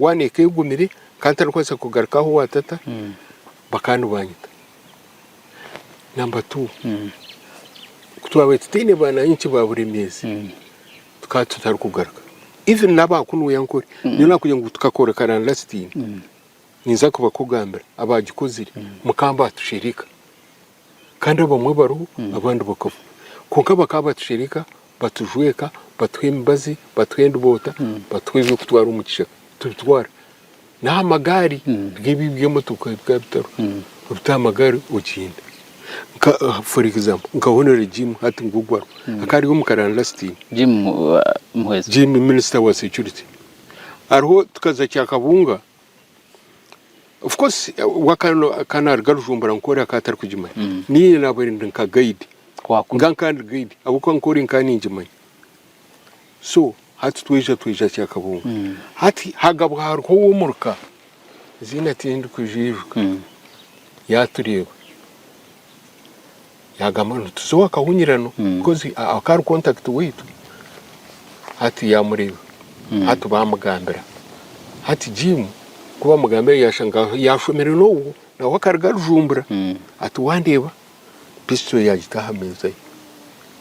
One eka egumire nkaba ntarikubaasa kugaruka aho owa tata bakaba nibanyita. Number two, ku twabaire tutaine baana hinkye ba Buremeezi tukaba tutarikugaruka. Even n'aba Kunuya Nkore nyowe nakugira ngu tukakora karandaasitiini ninza kubakugambira abaagikozire mukamba atushereka. Kandi abamwe bariho, abandi bakafa. Kwonka bakaba batushereka, batujweka, batuha emibazi, batuha endiboota, batuha eby'okutwara omu kishaka tubitwara. N'aha magaari, biri ebi eby'emotoka ebi bikaba bitariho. Obita aha magaari ogyenda. Nka for example, nka Honore Jim hati ngu ogu ariho, akaba ari omu karaani last year. Jim uh, Muhwezi. Jim minister wa security. Hariho tukaza Kyakabunga, Of course ka naruga Rujumbura nkore akaba atarikugimanya mm. niine nabaire ndi nka guide nga nkandi guide ahabw'okuba nkori nkaba ningimanya so hati tweija tweija kyakabunga mm. hati hagabwa hariho ow'omuruka ziina tindikujijuka mm. yatureeba yagamba ngu nituza owa kahunyirano because akaba ari contact waitu. Hati yamureeba, hati bamugambira. Hati Jim ku bamugambira yashanga yashomire n'ogwo nawe akaruga arujumbura ati wandeeba pistol yagita aha meeza ye.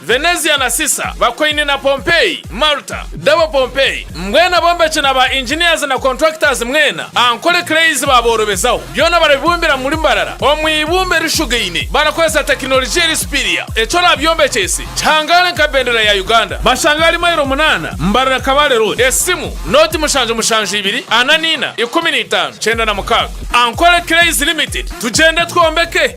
Venezia na Sisa, Bakoini na Pompeii, Malta, Double Pompeii, mbwenu abombeki na ba engineers na contractors mwena, Ankole Clays baaboorobezaho. Byona barabibumbira mu murimo arara, omu ibumba erishugaine, barakoresa tekinologia eri superior. Eki oraabyombekyese, kihangaale nka bendera ya Uganda. Bashange ahari mairo munaana, mbarira Kabale Road, esimu, nooti mushanju mushanju ibiri, ana naina, ikumi na itaano, kyenda na mukaaga. Ankole Clays Limited, tugyende twombeke!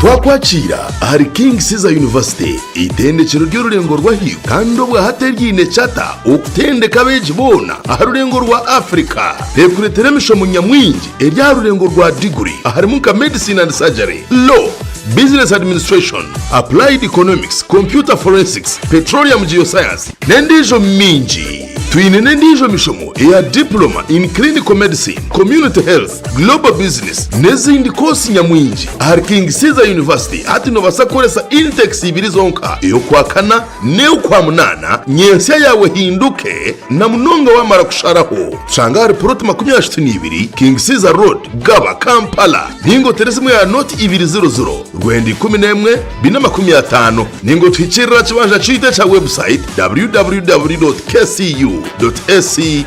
Twakwakiira ahari King Caesar University, eitendekero ry'orurengo rw'ahaiguru kandi obwa hati eryaine charter okutendeka abeegi boona aha rurengo rwa Africa. Tekureetera emishomo nyamwingi eri aha rurengo rwa diguri aharimu nka Medicine and Surgery, Law, Business Administration, Applied Economics, Computer Forensics, Petroleum Geoscience n'endiijo mingi. Twine n'endiijo mishomo eya Diploma in Clinical Medicine, Community Health, Global Business n'ezindi koosi nyamwingi ahari King Caesar University. Hati noobaasa kukoresa intakes ibiri zonka, ey'Okwakana n'ey'Okwamunaana, nyensya yaawe ehinduke, na munonga waamara kusharaho. Tushanga ahari puloti makumi ashatu n'ibiri King Caesar Road, Gaba, Kampala, ninga oteereze emwe ya nooti ibiri ziro ziro, rwenda ikumi n'emwe, bina makumi ataano, ninga otuhikiirire aha kibanja kyaitu ekya website www.kcu.ac.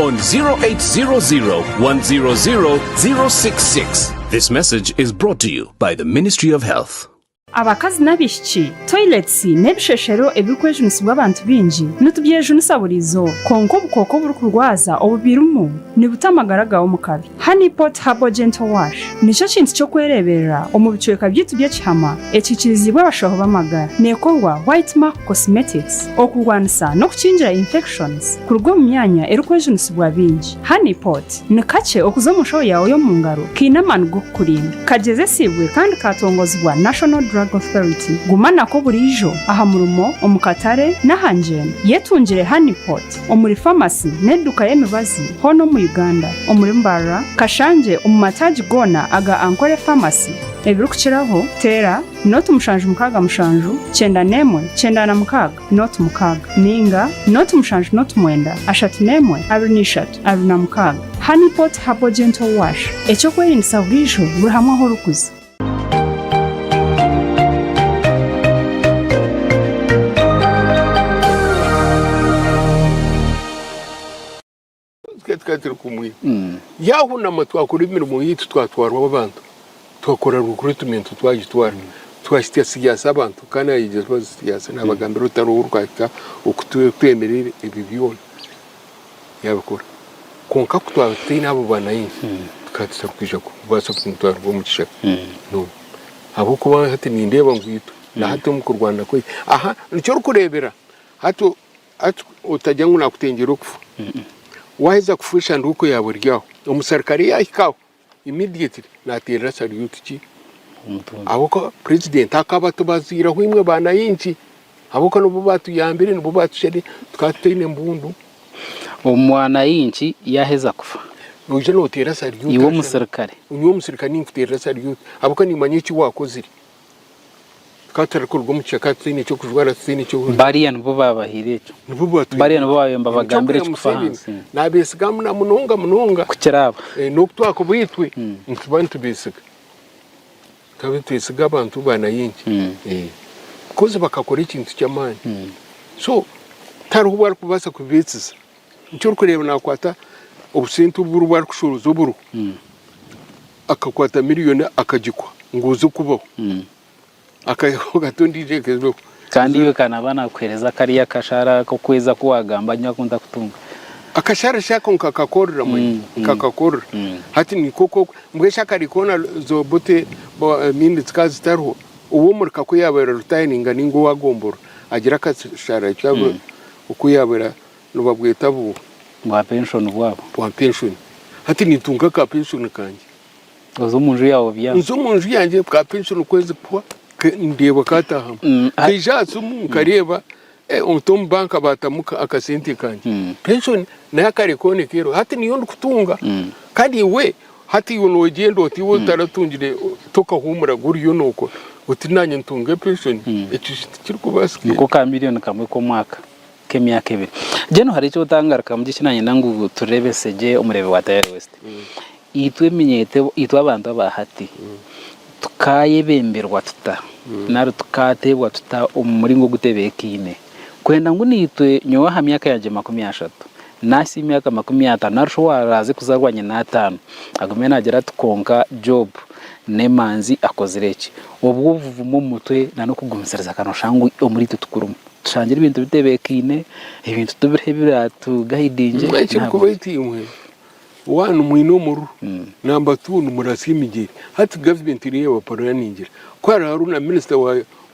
on 0800 100 066. This message is brought to you by the Ministry of Health. Abakazi n'abaishiki, toilets n'ebisheshero ebirikwejunisibwa abantu baingi nitubyejunisa buri izooba, kwonka obukooko oburikurwaza obu birimu nibuta amagara gaawe omu kabi. Honey Pot Herbal Gentle Wash nikyo kintu ky'okwereeberera omu bicweka byaitu by'ekihama ekikiriziibwe abashaho b'amagara. Neekorwa White Mark Cosmetics okurwanisa n'okukingira infections kuruga omu myanya erikwejunisibwa bingi. Honey Pot ni kakye okuza omu nshaho yaawe y'omu ngaro kaine amaani g'okukurinda. Kagyezesiibwe kandi kaatongoozibwa National Drug Authority. Guma nako buriijo aha murimo, omu katare, n'aha ngyendo. Yetungire Honey Pot. omuri famasi n'eduuka y'emibazi hoona omu Uganda omuri Mbarara, Kashanje omu mataagi goona aga Ankole Pharmacy, ebirikukiraho, teera noti mushanju mukaaga mushanju kyenda n'emwe kyenda na mukaaga noti mukaaga ninga noti mushanju noti mwenda ashatu n'emwe abiri na ishatu abiri na mukaaga. Honeypot Herbal Gentle Wash, eky'okwerindiisa buriijo buri hamwe ahu orikuza. Yahunama twakora emirimo yaitu twatwarwa abantu twakora recruitment twagitwara twahitsya siyaasi abantu kandi nayegyesa siyaasi nabagambira otari owu orikuhitsya oku twemerire ebyo byona. yabikora. Kwonka ku twaba tutaine abo banaye, tukaba tutari kwija kubaasa kugira ngu twaruga omu kishaka. No. Ahabw'okuba hati nindeeba ngu itwe na hati omu kurwana kwaitu, aha nikyo orikureebera hati o- hati otagira ngu naakutengyera okufa. Waaheza kufa eshanduuko yaawe eri aho, omusirikare yaahika aho, Immediately naterera salute ki omutumba ahabwokuba president akaba atubaziire ahu imwe banainki ahabwokuba nibo batuyambire nibo batushade tukaba tutaine mbundu. Omwanainki yaheza kufa noija noteera salute iwe omusirikare? Nyowe omusirikare ninkuteerera salute ahabwokuba nimanya eki wakozire. Tukaba tutarikuruga omu kishaka tutaine eky'okujwara tutaine eky'okurya. Bariya nibo baabahaire ekyo. Nibo baatwire. Bariya nibo baabayemba Ebi bagambira eky'okugira ekikufa aha Museveni, nsi. Naabeesiga muna- munonga munonga. Kukira aba. Eh, n'oku twakuba itwe nituba nitubeesiga. Tukaba nitwesiga abantu ba Nayingi. Eh, bikozi bakakora ekintu ky'amaani. So tihariho obu arikubaasa kubeetsiza. Nikyo orikureeba naakwata obusinti obu oribo arikushoroza oburo, akakwata miriyoni akagikwa ngu oze kubaho. Akayaho kata ondiijo ekebeho. Kandi iwe ka naaba naakuheereza kariya kashara k'okwezi aku waagamba nyowe aku ntakutunga. Akashara shi ako nkakakorera manya, nkakakorera. Hati nikwo ku ori. Mbwenu shi akari koona zoba oti bo emiindi zikaba zitariho, ow'omurika ku yaabaire aritayaninga nainga owaagombora, agira akashara ki oku yaabaire Nibabweta bu. Bwa penshoni bwabo. Bwa penshoni. Hati nintunga ka penshoni kangye. Oza omu nju yaawe byanga. Nza omu nju yangye ka penshoni kwezi kuhwa ndeeba kaataahamu. Mm, Nkaija aha simu nkareeba eh, omuti omu banka baatamu ka- akasente kangye. Mm. Penshoni nayo akare kooneka ero. Hati niyo ndikutunga. Mm. Kandi iwe hati iwe noogyenda oti iwe otaratungire tokahuumura gye oriyo nookora oti naanye ntunge penshoni. Ekyo shi tikirikubaasika? Niko ka miriyoni kamwe k'omwaka. nk'emyaka ebiri mbwenu hariho eki otangarikamu gye eki nanyenda ngu tureebese gye omureebe wa Tayari West. Itwe eminyeeto ebu- itwe abantu aba hati tukayebemberwa tuta nari tukateebwa tuta omu muringo ogutebeekaine kwenda ngu naitwe nyowe aha myaka yangye makumi ashatu nahitsya emyaka makumi ataano nari shi owaraaze kuzaarwa nyina ataano agume naagira ati kwonka Job n'emanzi akozire ki. Obwo obuvumo omu mutwe na n'okugumisiriza ka nooshanga ngu omuri itwe tikurimu. Tushangire ebintu bitebeekaine, ebintu tubiriho ebiraatugaidingye. Mbwenu ekirikuba eki imwe waanu mwine omururu hmm. namba tuu nimuratsya emigyere. Hati gavumenti eriyo ebaporaningira ku hariho hariho na minisita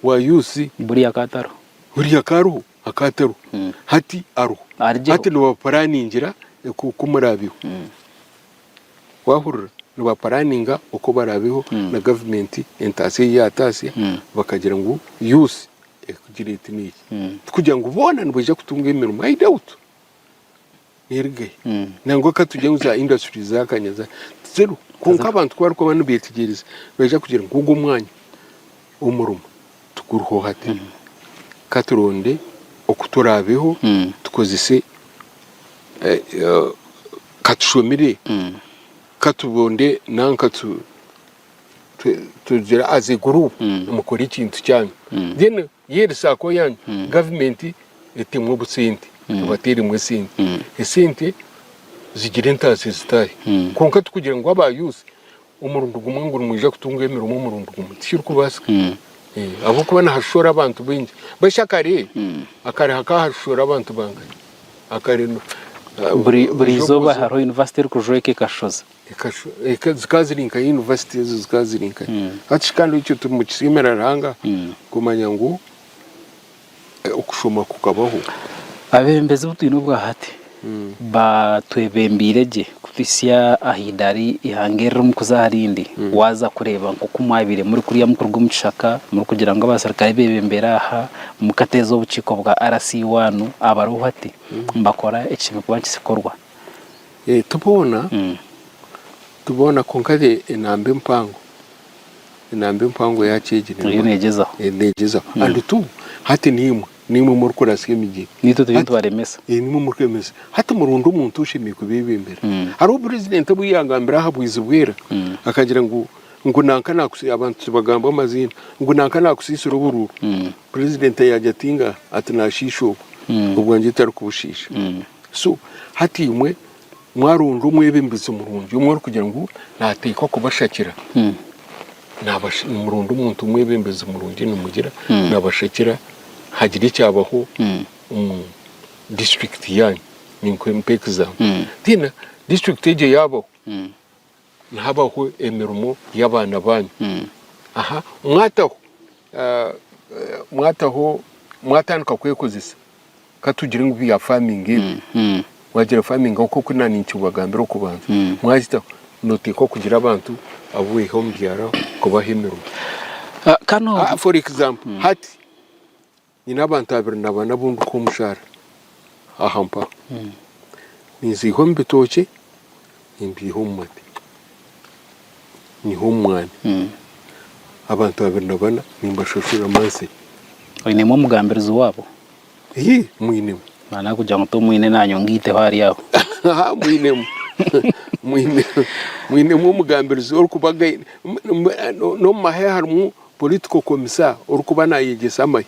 wa UC. Buriya akaba atariho. Buriya akaba ariho, akaba atariho. Hmm. Hati ariho. Hati nibaporaningira oku muraabeho. Hmm. Waahurira? Nibaporaninga oku baraabeho na gavumenti entaasya ei yaataasya bakagira ngu UC. Ekikugira eti n'eki, tikugira ngu boona nibaija kutunga emirimo. I doubt. Nerigayo. Nangwa ka tugire ngu za industries za kanya za, tiziriho. Kwonka abantu ku barikuba nibeetegyereza, nibaija kugira ngu ogu omwanya, omurimo tiguriho hati. Ka turonde oku turaabeho, tukozese, eh, eh, ka tushomire, ka turonde nanka tu. tugira as a group mm. mukore ekintu kyanyu mm. then yeri sako yanyu mm. government etemu obusente tubateremu esente esente zigira entaasi zitahe konka tukugira ngu aba youth omurundi gumwe ngu nimwija kutunga emirimo omurundi gumwe tikirikubaasika eh, ahabw'okuba nihashora abantu baingi bashya kare akare hakahashora abantu bangahe akare buri izooba hariho yunivasite erikujweka ekashoza zikaba ziri nka university ezo zikaba ziri nka hati shi kandi ekyo tumukisimira Ruhanga kumanya ngu okushoma kukabaho. Abebembezi obu twine obwa hati batwebembeire gye kutuhitsya aha idari ihanga eri rimu kuza aha rindi. Waza kureeba nk'oku mwabaire muri kuriya muri kuruga omu kishaka muri kugira ngu abaserukare bebembera aha, mukateeza obukiiko bwa RC1 abariho hati nibakora ekishemereire kuba nikikorwa. Ti boona, ti boona kwonka enamba empango, enamba empango yaaki egi eriyo neegyezaho, eriyo neegyezaho and tu hati naimwe, naimwe murikuratsya emigyera, naitwe turiyo nitubaremesa, naimwe murikuremesa, hati muronde omuntu oshemereire kubeebembera, hariho purezidenti obu yaagambire aha bwizi bwera akagira ngu ngu nanka naakusi abantu tibagambwa amaziina, ngu nanka naakusiisira oburuuru, purezidenti yaagira ati ngaha, ati naashiisha obwo, obwangye tarikubushiisha. So hati imwe mwaronda omwebembezi murungi omwe orikugira ngu nateekwa kubashakira nabash- nimuronda omuntu omwebembezi murungi nimugira nabashakira hagira ekyabaho omu district yanyu ninkwe mpa example then district egyo yabaho Nihabaho emirimo y'abaana baanyu. Aha, mwataho, ah, mwataho, mwatandika kwekozesa, katugire ngu bya farming ebi. Mwagira farming nk'oku oku naani nkibagambira okubanza. Mwagitaho, nooteeka okugira abantu abu weiha omu byaro kubaha emirimo. Ah, kano- Ah, for example, hati, Nyine abantu abiri na bana abu ndikuha omushaara aha mpaha. Ninziiha omu bitookye, nimbiiha omu mate, nyiha omu mwani. Abantu abiri na bana nimbashashura mansi. Oinemu omugambirizi waabo? Hii, mwinemu. Nonya kugira ngu tomwine naanye ongaiteho ari aho. Haa, mwinemu. Mwinemu omugambirizi orikubagaine. N'omu mahe harimu Political Commissar orikuba nayegyesa amahe.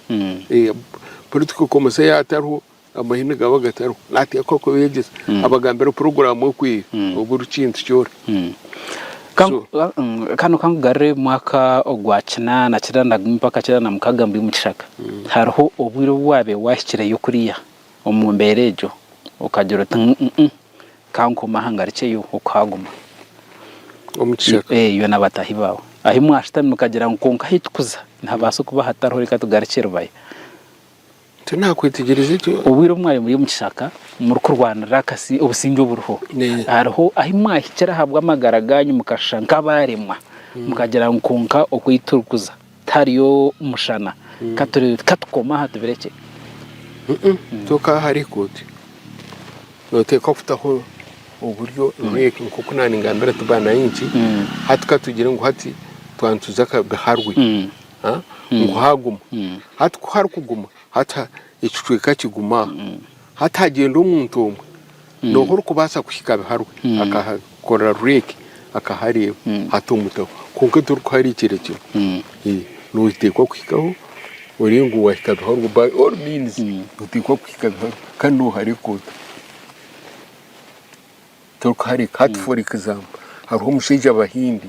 Political Commissar yaaba atariho, amahe nigaba gatariho. Nateekwa kuba yegyesa. Abagambira puroguraamu ekwiha oburi kintu kyona. Kanu kankugarure mwaka ogwa kinaana kinaana na gumwe mpaka kinaana na mukaaga mbwenu omu kishaka. Hariho obwire obu waabaire waahikireyo kuriya omu mbeera egyo okagira oti, Ka nkome aha ngarikye yo okuhaguma. Omu kishaka? Ee, iwe na bataahi baawe. Ahi mwashutami mukagira ngu, 'Kwonka ahi tukuza nihabaasa okuba hatariho, reka tugarukye Rubaya. Tinakwetegyereize gye. Obwire obu mwabaire muri omu kishaka murikurwanirira akasi obusingye oburiho, hariho ahi mwahikire ahabw'amagara gaanyu mukashusha nk'abaaremwa, mukagira ngu, 'Kwonka oku ei turikuza. Tihariyo mushana katurebe katukome aha tubirekye. Kyoka hariho ekooti noteekwa kutaho oburyo nkoku naba ningambira nti banainki hati katugire ngu hati twaba nituza Kaharwe ngu haguma hati kuharikuguma hati ekicweka kiguma aha. Hati hagyenda omuntu omwe noha orikubaasa kuhika biharwe akakora rureki akahareeba hati omutaho kwonka torikuhariikira kimwe noteekwa kuhikaho orebe ngu wahika biharwe by all means noteekwa kuhika biharwe kandi nohareka ota torikuhareka hati for example hariho omushaija abahindi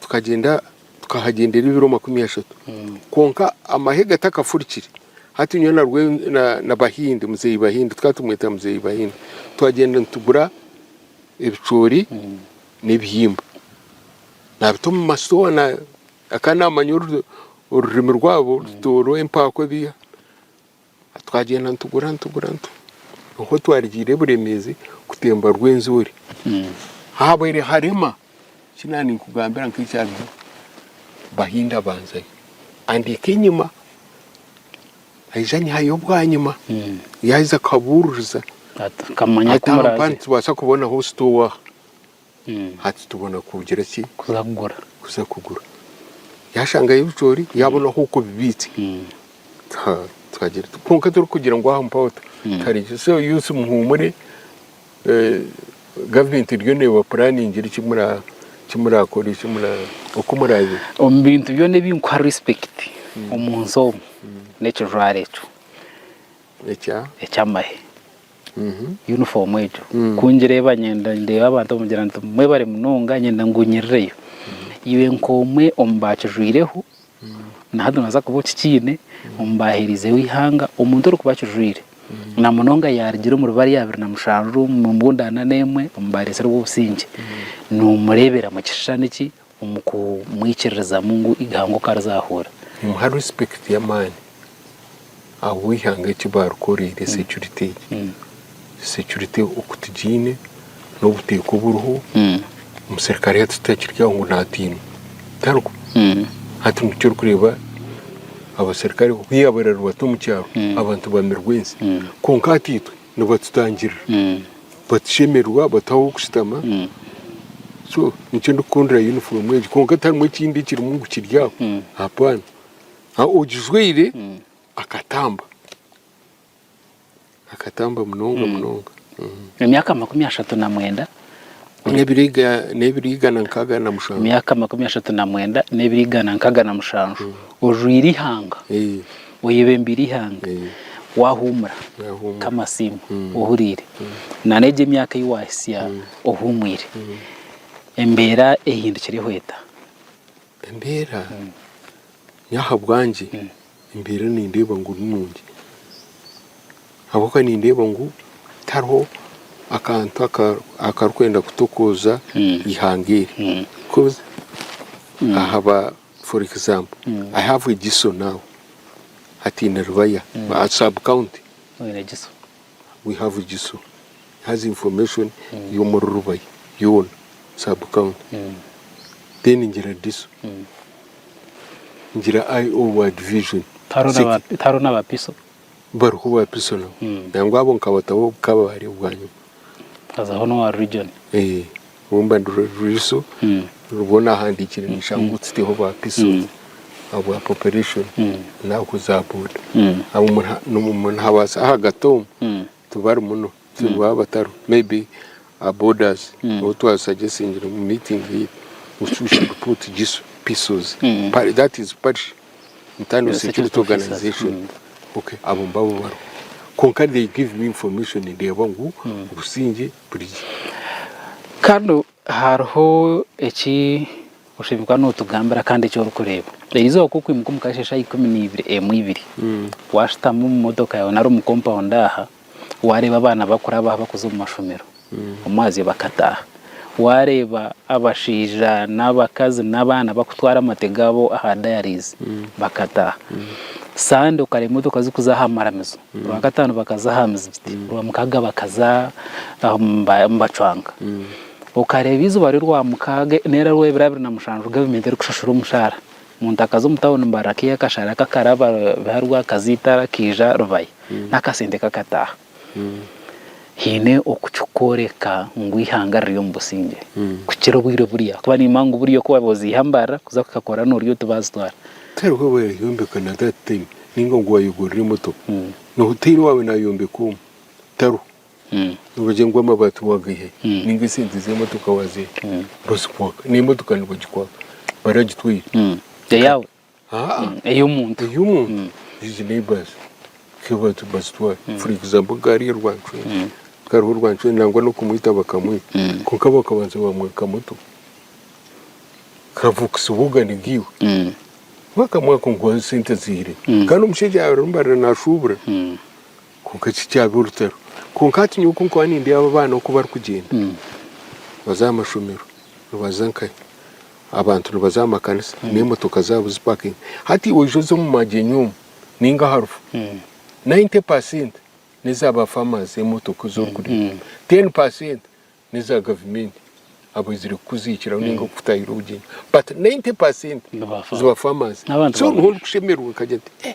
Tukagyenda tukahagyendera ebiro makumi ashatu kwonka amahe gatakafurikire. Hati nyowe na Rwe na Bahindi, Muzeeyi Bahindi, tukaba tumweta Muzeeyi Bahindi, twagyenda nitugura ebicoori n'ebihimba nabita omu masitoowa akaba namanya orurimi rwabo, Rutooro, Empaakwa ebi. Twagyenda nitugura nitugura nikwo twarigiire Buremeezi kutemba Rwenzori. Habaire harema eki naaba ninkugambira nk'ekyariho Bahinda abanzayo andeeka enyima aija anyihayo bwanyima. Yaaheza akabuuririza ati, nkamanya ku muraaze. Nitubaasa kubonaho sitoowa aha? Hati tubona kugira ki? Kuza kugura. Kuza kugura. Yashangayo ebicoori, yabona ahu okubibiitse. Tukagira tuti kwonka turikugira ngu aha mpaho ta. Tukareeba so youths muhuumure, eh, gavumenti eriyo neebapuraningira eki mura eki murakore eki mura oku murabe. Omu bintu byona ebi nkuha respect omu nsi omu, n'ekijwaro ekyo. ekya ekyamahe yunifoomu egyo ku ngireeba nyenda ndeeba abantu bamugira nti mwebare munonga nyenda ngunyirireyo iwe nk'omwe omu baakijwaireho na hati noobaasa kuba okikiine omu baaheereizeho eihanga omuntu orikuba akijwaire na munonga yaarugire omuri bari abiri na mushanju omu mbundaana n'emwe omu baareetserwe obusingye noomureebera mu kishushani ki omu kumwikiririzamu ngu eihanga oku arizaahurira. Nimuha respect y'amaani ahabw'eihanga eki baarikoreire security egi. Security okutugiine n'obuteeka oburiho, omuserikare hati titakiri aho ngu naatiinwa. Tariho. Hati nikyo orikureeba abaserikare ku yaaba ararwa ata omu kyaro, abantu bamirwe ensi. Kwonka hati itwe nibatutangirira batushemererwa bataha ah'okushutama so nikyo ndikukundira yunifoomu egi kwonka tiharimu ekindi ekirimu ngu kiri aho hapana ogijwaire akatamba akatamba munonga munonga. Emyaka makumi ashatu na mwenda. n'ebiro igana nkaaga na mushanju. Emyaka makumi ashatu na mwenda n'ebiro igana nkaaga na mushanju ojwaire eihanga, oyebembeire eihanga, waahuumura nk'amasiimo ohuriire, nana egyo emyaka ei waahitsya ohuumwire, embeera ehindukire hweta. Embeera? Nyowe ahabwangye. Embeera nindeeba ngu ni nungi ahabw'okuba nindeeba ngu tihariho akantu akarikwenda kutokooza eihanga eri coz ahaba for example i have egiso now hataine rubaya sub county. We have Giso has information y'omuri Rubaya yoona sub county then ngira Diso ngira IO wa division Tihariho City n'aba- tihariho n'abapiso bariho ba piso nabo nangwa abo nkabataho obukabaare bwanyima hazaho n'owa region Eh, Rwomba nirwo ruriiso rurwo naahandiikire nishanga ngu tsiteho ba piso ahabwa population naaku za boda abo muna- nomu- munahabaasa ahagati omu tibari muno so nibaba batariho maybe a bodas ou twasuggestingire omu meeting ye we should- we should put jiso pisos Pari- that is parish internal Yes, security security officers. organisation okay abo mbabo bariho kwonka they give me information ndeeba ngu obusingye Kanu hariho eki oshemeriire kuba notugambira kandi eki orikureeba. Erizooba ku rikwimuka omu kasheeshe aha ikumi na ibiri emu ibiri, washutama omu motoka yaawe nari omu kompawundi aha, wareeba abaana bakurabaho bakuza omu mashomero, omwazyo bakataaha. Wareeba abashaija n'abakazi n'abaana bakutwara amate gaabo aha dayarizi bakataaha. Sande okareeba emotoka zikuza aha maramizo. Rwakataano bakaza aha mizigiti, Rwamukaaga bakaza nibacwanka. Okareeba eizooba ry'Orwamukaaga nari Orwebirabiri na mushanju gavumenti erikushashura omushaara, omuntu akaza omu tauni mbari akaiha akashaara ke akaraba biha Rwakaza eitara akaija Rubaya n'akasente ke akataaha. Haine oku kirikworeka ngu eihanga riri omu busingye kukira obwire buri aha ahakuba niimanya ngu buri oku waabaire oziiha mbari kuza kuhika kora noori oti baazitwara. Tihariho abaaryombeka na that time. Ninga ngu wayegurira emotoka na hoteeri waawe nayombeka omu taro nibagire ngu amabaati wagaihayo ninga esente z'emotoka wazihayo bazikwaka n'emotoka nibagikwaka baragitwaire eyaawe ey'omuntu ey'omuntu egi neighbours bazitwara for example nka hariya Rwancwera nangwa n'okumwita bakamwita kwonka bakabanza bamwaka motoka. kavukisa obwogani bwiwe kuba akamwaka ngu nkuha sente ziire kandi omushaija ariyo nabarira nashuubura kwonka eki kyaaba orutaro kwonka hati nyowe kunkuba nindeeba aba abaana oku barikugyenda nibaza aha mashomero nibaza nkahe abantu nibaza aha makanisa n'emotoka zaabo zipakingi hati iwe oije oze omu magyenyi omu nainga aha rufa nayinte pasenti n'eza ba famazi emotoka ezi orikureeba teeni pasenti neza gavumenti abaizire kukuziikiraho ninga kukutahiira obugyenyi but 90 percent ziba farmers so niho ndikushemererwa nkagira nti eh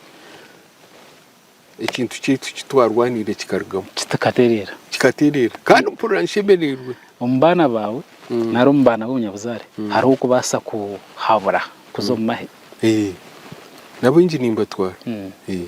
ekintu kyaitu kitwarwaniire kikarugamu kikatereera kikatereera kandi mpurira nshemererwe omu baana baawe mm. nari omu baana b'obunyabuzaare mm. hariho okubaasa kuhabura kuza omu mahe eh. nabaingi nimbatwara mm. eh.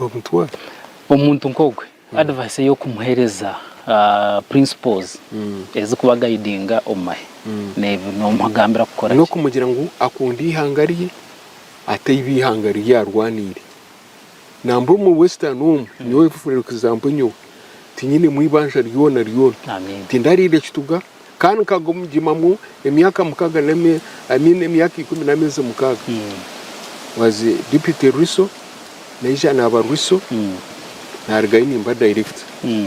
omutwe. Omuntu nkogwe advice eyokumuhereza principles ezikuba agayidinga omumahe nomugambira kukora ki? Nokumugira ngu akunde ihanga rye ataibi ihanga riri arwaniire nambwo omu western omu nyowe for example nyowe tinyinemu ibanja ryona ryona tindariira ekituga. Kandi nkagugimamu emyaka mukaga na mi, I mean emyaka ikumi na mezi mukaga. Was deputy Riso, naija naba Riso, narigayo nimba director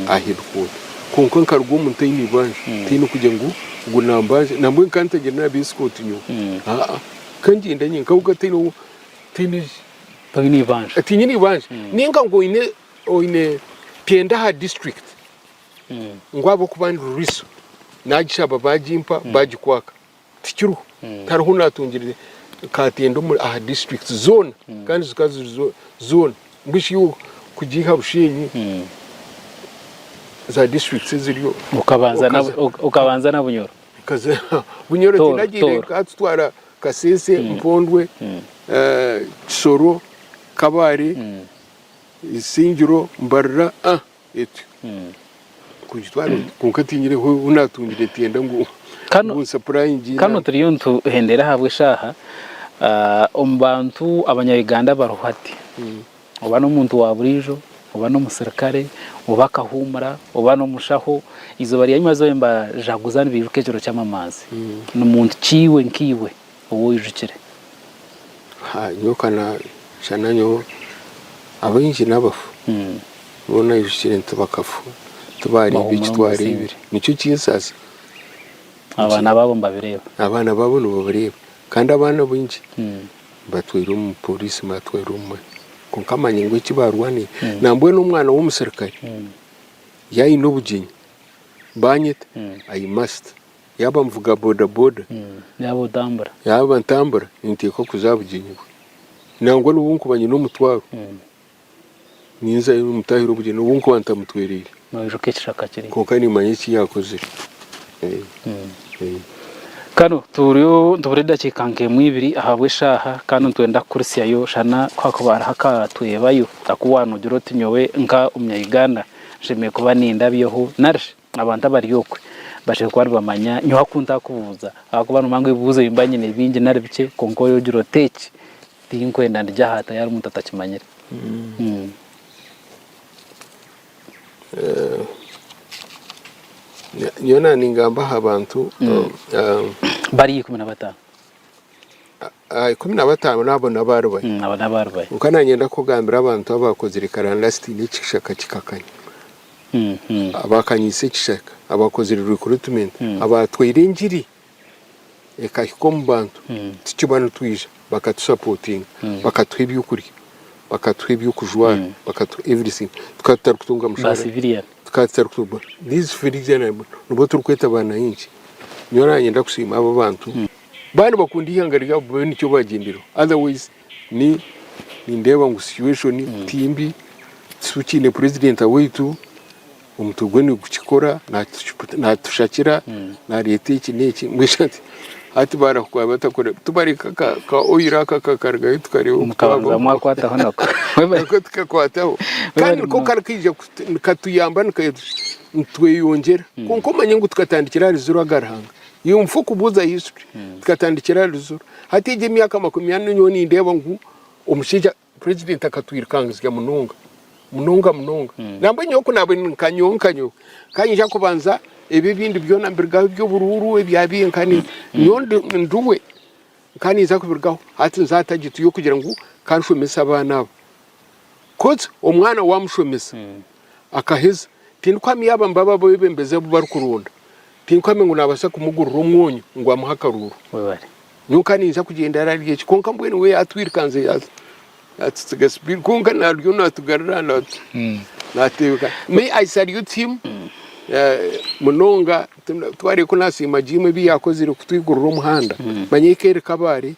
aha headquarter. Kwonka nkaruga omu ntaine ibanja, ntaine kugya ngu ngu nambanja, nambwenu kantegyere naba escort nyowe, aa kangyende nye nkaruga ntaine owo, ntaine ki, Toine ibanja. tinyine ibanja, ninga ngu oyine oyine pyenda aha district. ngu ahabw'okuba ndi ruriso, naagishaba baagimpa, baagikwaka. Tikiriho. Tihariho naatungire kaatende omuri aha disiturikiti zoona kandi zikaba ziri zoona. Mbwenu shi iwe kugiiha Bushenyi za disiturikiti eziriyo Okabanza na, okaza- ok- okabanza na Bunyoro. Kaza Bunyoro Tooro, tinagiire Tooro. nkatutwara Kasese, Mpondwe, eh, Kisoro, Kabale, Isingiro, Mbarira. Ah, Eti, kugitwara oti kwonka tinyine hu naatungire etyenda ngu nsapurayingye enaku. Kanu turiyo nituhendera ahabw'eshaaha. Omu bantu abanya-Uganda bariho hati, oba n'omuntu wa buriijo, oba n'omusirikare, oba akahuumura, oba n'omushaho, eizooba ryanyima zooba embajaguza nibaijuka ekiro ky'amamazi. Ni muntu ki iwe nkaiwe? ou oijukire? Nyowe ka naashana nyowe, abaingi n'abafu. Nyowe naijukire nti bakafa tibaareeba eki twareebire. Nikyo kinsaasa. Abaana baabo nibabireeba? Abaana baabo nibabireeba. Kandi abaana baingi batwairwe omu pooriisi nibatwarwa omu mani. Kwonka amani ngu eki baarwanire. Nambwenu omwana w'omuserikare yaayine obugyenyi, baanyeta, i must. Yaaba nivuga bodaboda. Yaaba otambura. Yaaba ntambura, ninteeka okuza aha bugyenyi bwe. Nangwa n'obu nkuba nyine omutwaro, ninza nimutahira obugyenyi n'obu nkuba ntamutwereire. Noijuka ekishaka kiri. Kwonka nimanya eki yaakozire. Kare turiyo nitubura edakiika nk'emwe ibiri ahabw'eshaaha kandi nitwenda kukurisyayo shana ku hakuba hariho akatwebayo aku waanogira oti nyowe nk'Omunya-Uganda nshemereire kuba nindabyaho nari shi? Abantu abari okwe bashemeriire kuba nibamanya nyowe aku ntakubuuza ahabw'okuba noomanya ngu ebibuuzo ebi mba nyine bingi nari bikye kwonka oiha ogira oti eki tinkwenda ndigye aha hataari hariho omuntu atakimanyire. Nyowe naaba ningamba aha bantu bari ikumi na bataano. Aha ikumi na bataano n'abo n'abaari bahi? Abo n'abaari bahi? Kwonka nanyenda kukugambira abantu abaakozire karandaasiti n'ekishaka kikakanya, abaakanyiise ekishaka, abaakozire rikrutimenti, abaatwaire engiri ekahika omu bantu tukiba nitwija bakatusapotinga, bakatuha eby'okurya, bakatuha eby'okujwara, bakatuha everything. Tukaba tutarikutunga mushaara, tukaba tutarikutunga, these civilians nibo turikweta baanaingi. Nyowe naanyenda kusiima abo abantu Baaba nibakunda eihanga ryabo babe nikyo baagyendereho otherwise ni nindeeba ngu situation ti mbi tukiine president waitu omutwe gwe nigukikora naatuki naatushakira naareeta eki n'eki mbwenu sha ti hati baarahukwa batakore tubareka ka ka oil aka kakarugayo tukareeba oku mukabanza twaba mwakwataho nako Webale. nako tukakwataho Webale kandi niko munonga. karikaija kutu- nikatuyamba nika- nitweyongyera kwonka omanye ngu tukatandikira ahari ziro aga ruhanga Yumfa kubuuza ahaiswe tukatandikira aha ruziro. Hati egi emyaka makumi ana nyowe nindeeba ngu omushaija president akatwirukangizya munonga munonga munonga. Nambwe nyowe kunaabe ndi nka nyowe nka nyowe kanyija kubanza ebi ebindi byoona mbirugaho ebyoburuuru ebya biihe nkani nyowe ndi ndi we nkaninza kubirugaho hati nza target yokugira ngu kanshomese abaana aba coz omwana wamushomesa akaheza tindikuhamya yaaba nibo abebembezi abubarikuronda Tinkuhami ngu naabaasa kumugurira omwonyo ngu amuhe akaruuru. Nyowe nkaba ninyija kugyenda ararya eki kwonka mbwenu we yaatwirukanze yaatsitsiga sipiidi kwonka naaruryo naatugarura naateebeka. Me I salute him munonga, twareeba ku naasiima Jim ebi yaakozire kutwigurira omuhanda manya eka eri Kabale.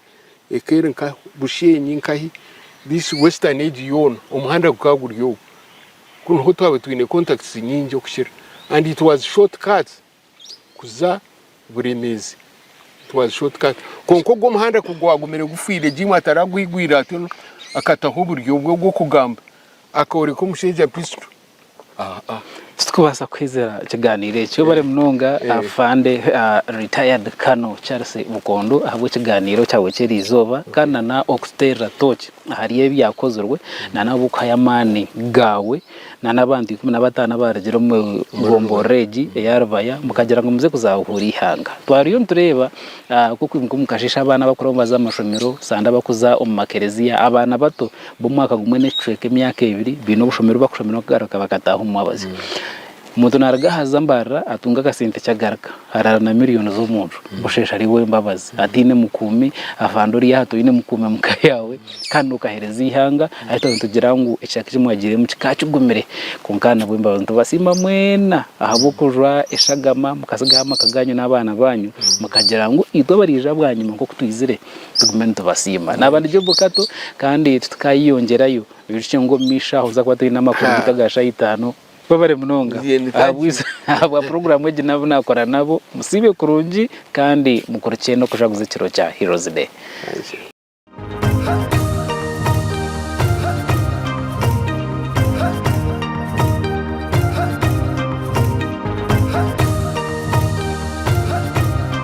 eka eri nka Bushenyi nkahi this western egi yoona omuhanda gukaba guri ogu ku niho twaba twine contacts nyingi okukira and it was short cuts kuza Buremeezi it was short cut kwonka ogwo omuhanda ku gwagumire gufwire gye imwe ataragwigwire ati ono akataho oburyo bwe obw'okugamba akooreka omushaija pistol Titukubaasa kwezera kigaaniiro eki. Webare munonga afande retired Colonel Charles Bukondo ahabw'ekigaaniiro kyawe ky'eri izooba kandi na n'okututeerera tooki ahari ebyakozirwe na n'ahabw'okuhayo amaani gaawe na n'abantu ikumi na bataano abaarugire omu gomborora egi eya Rubaya mukagira ngu muze kuzahuura eihanga. Twariyo nitureeba nk'oku omu kasheeshe abaana abakuraho nibaza aha mashomero, sande abakuza omu makereziya, abaana bato. b'omwaka gumwe n'ekicweka emyaka ebiri baine obushomero obu bakushomera okugaruka bakataaha omu mwabazyo. Omuntu naaruga aha za mbarara atunga akasente eki agaruka araara na miliyooni z'omuntu busheesha ari ow'embabazi ataine mukuumi afande ori aha toine mukuumi omu ka yaawe kandi nookaheereza eihanga ahi twaba nitugira ngu ekicweka eki mwagiiremu kikaba kigumire kwonka aha nabw'embabazi. Nitubasiima mwena ahabw'okujwa eshagama mukatsigaho amaka gaanyu n'abaana baanyu mukagira ngu itwe abariija bwanyima nk'oku twizire tugume nitubasiima naaba nigye bukato kandi tukaayeyongyerayo bicwe ngu omu maisho aho tuza kuba twine amakuru nka aga shaaha itaano. Webare munonga ahabwa puroguraamu egi n'abu naakora nabo. Musiibe kurungi kandi mukurukye n'okujaguza ekiro kya Heroes Day.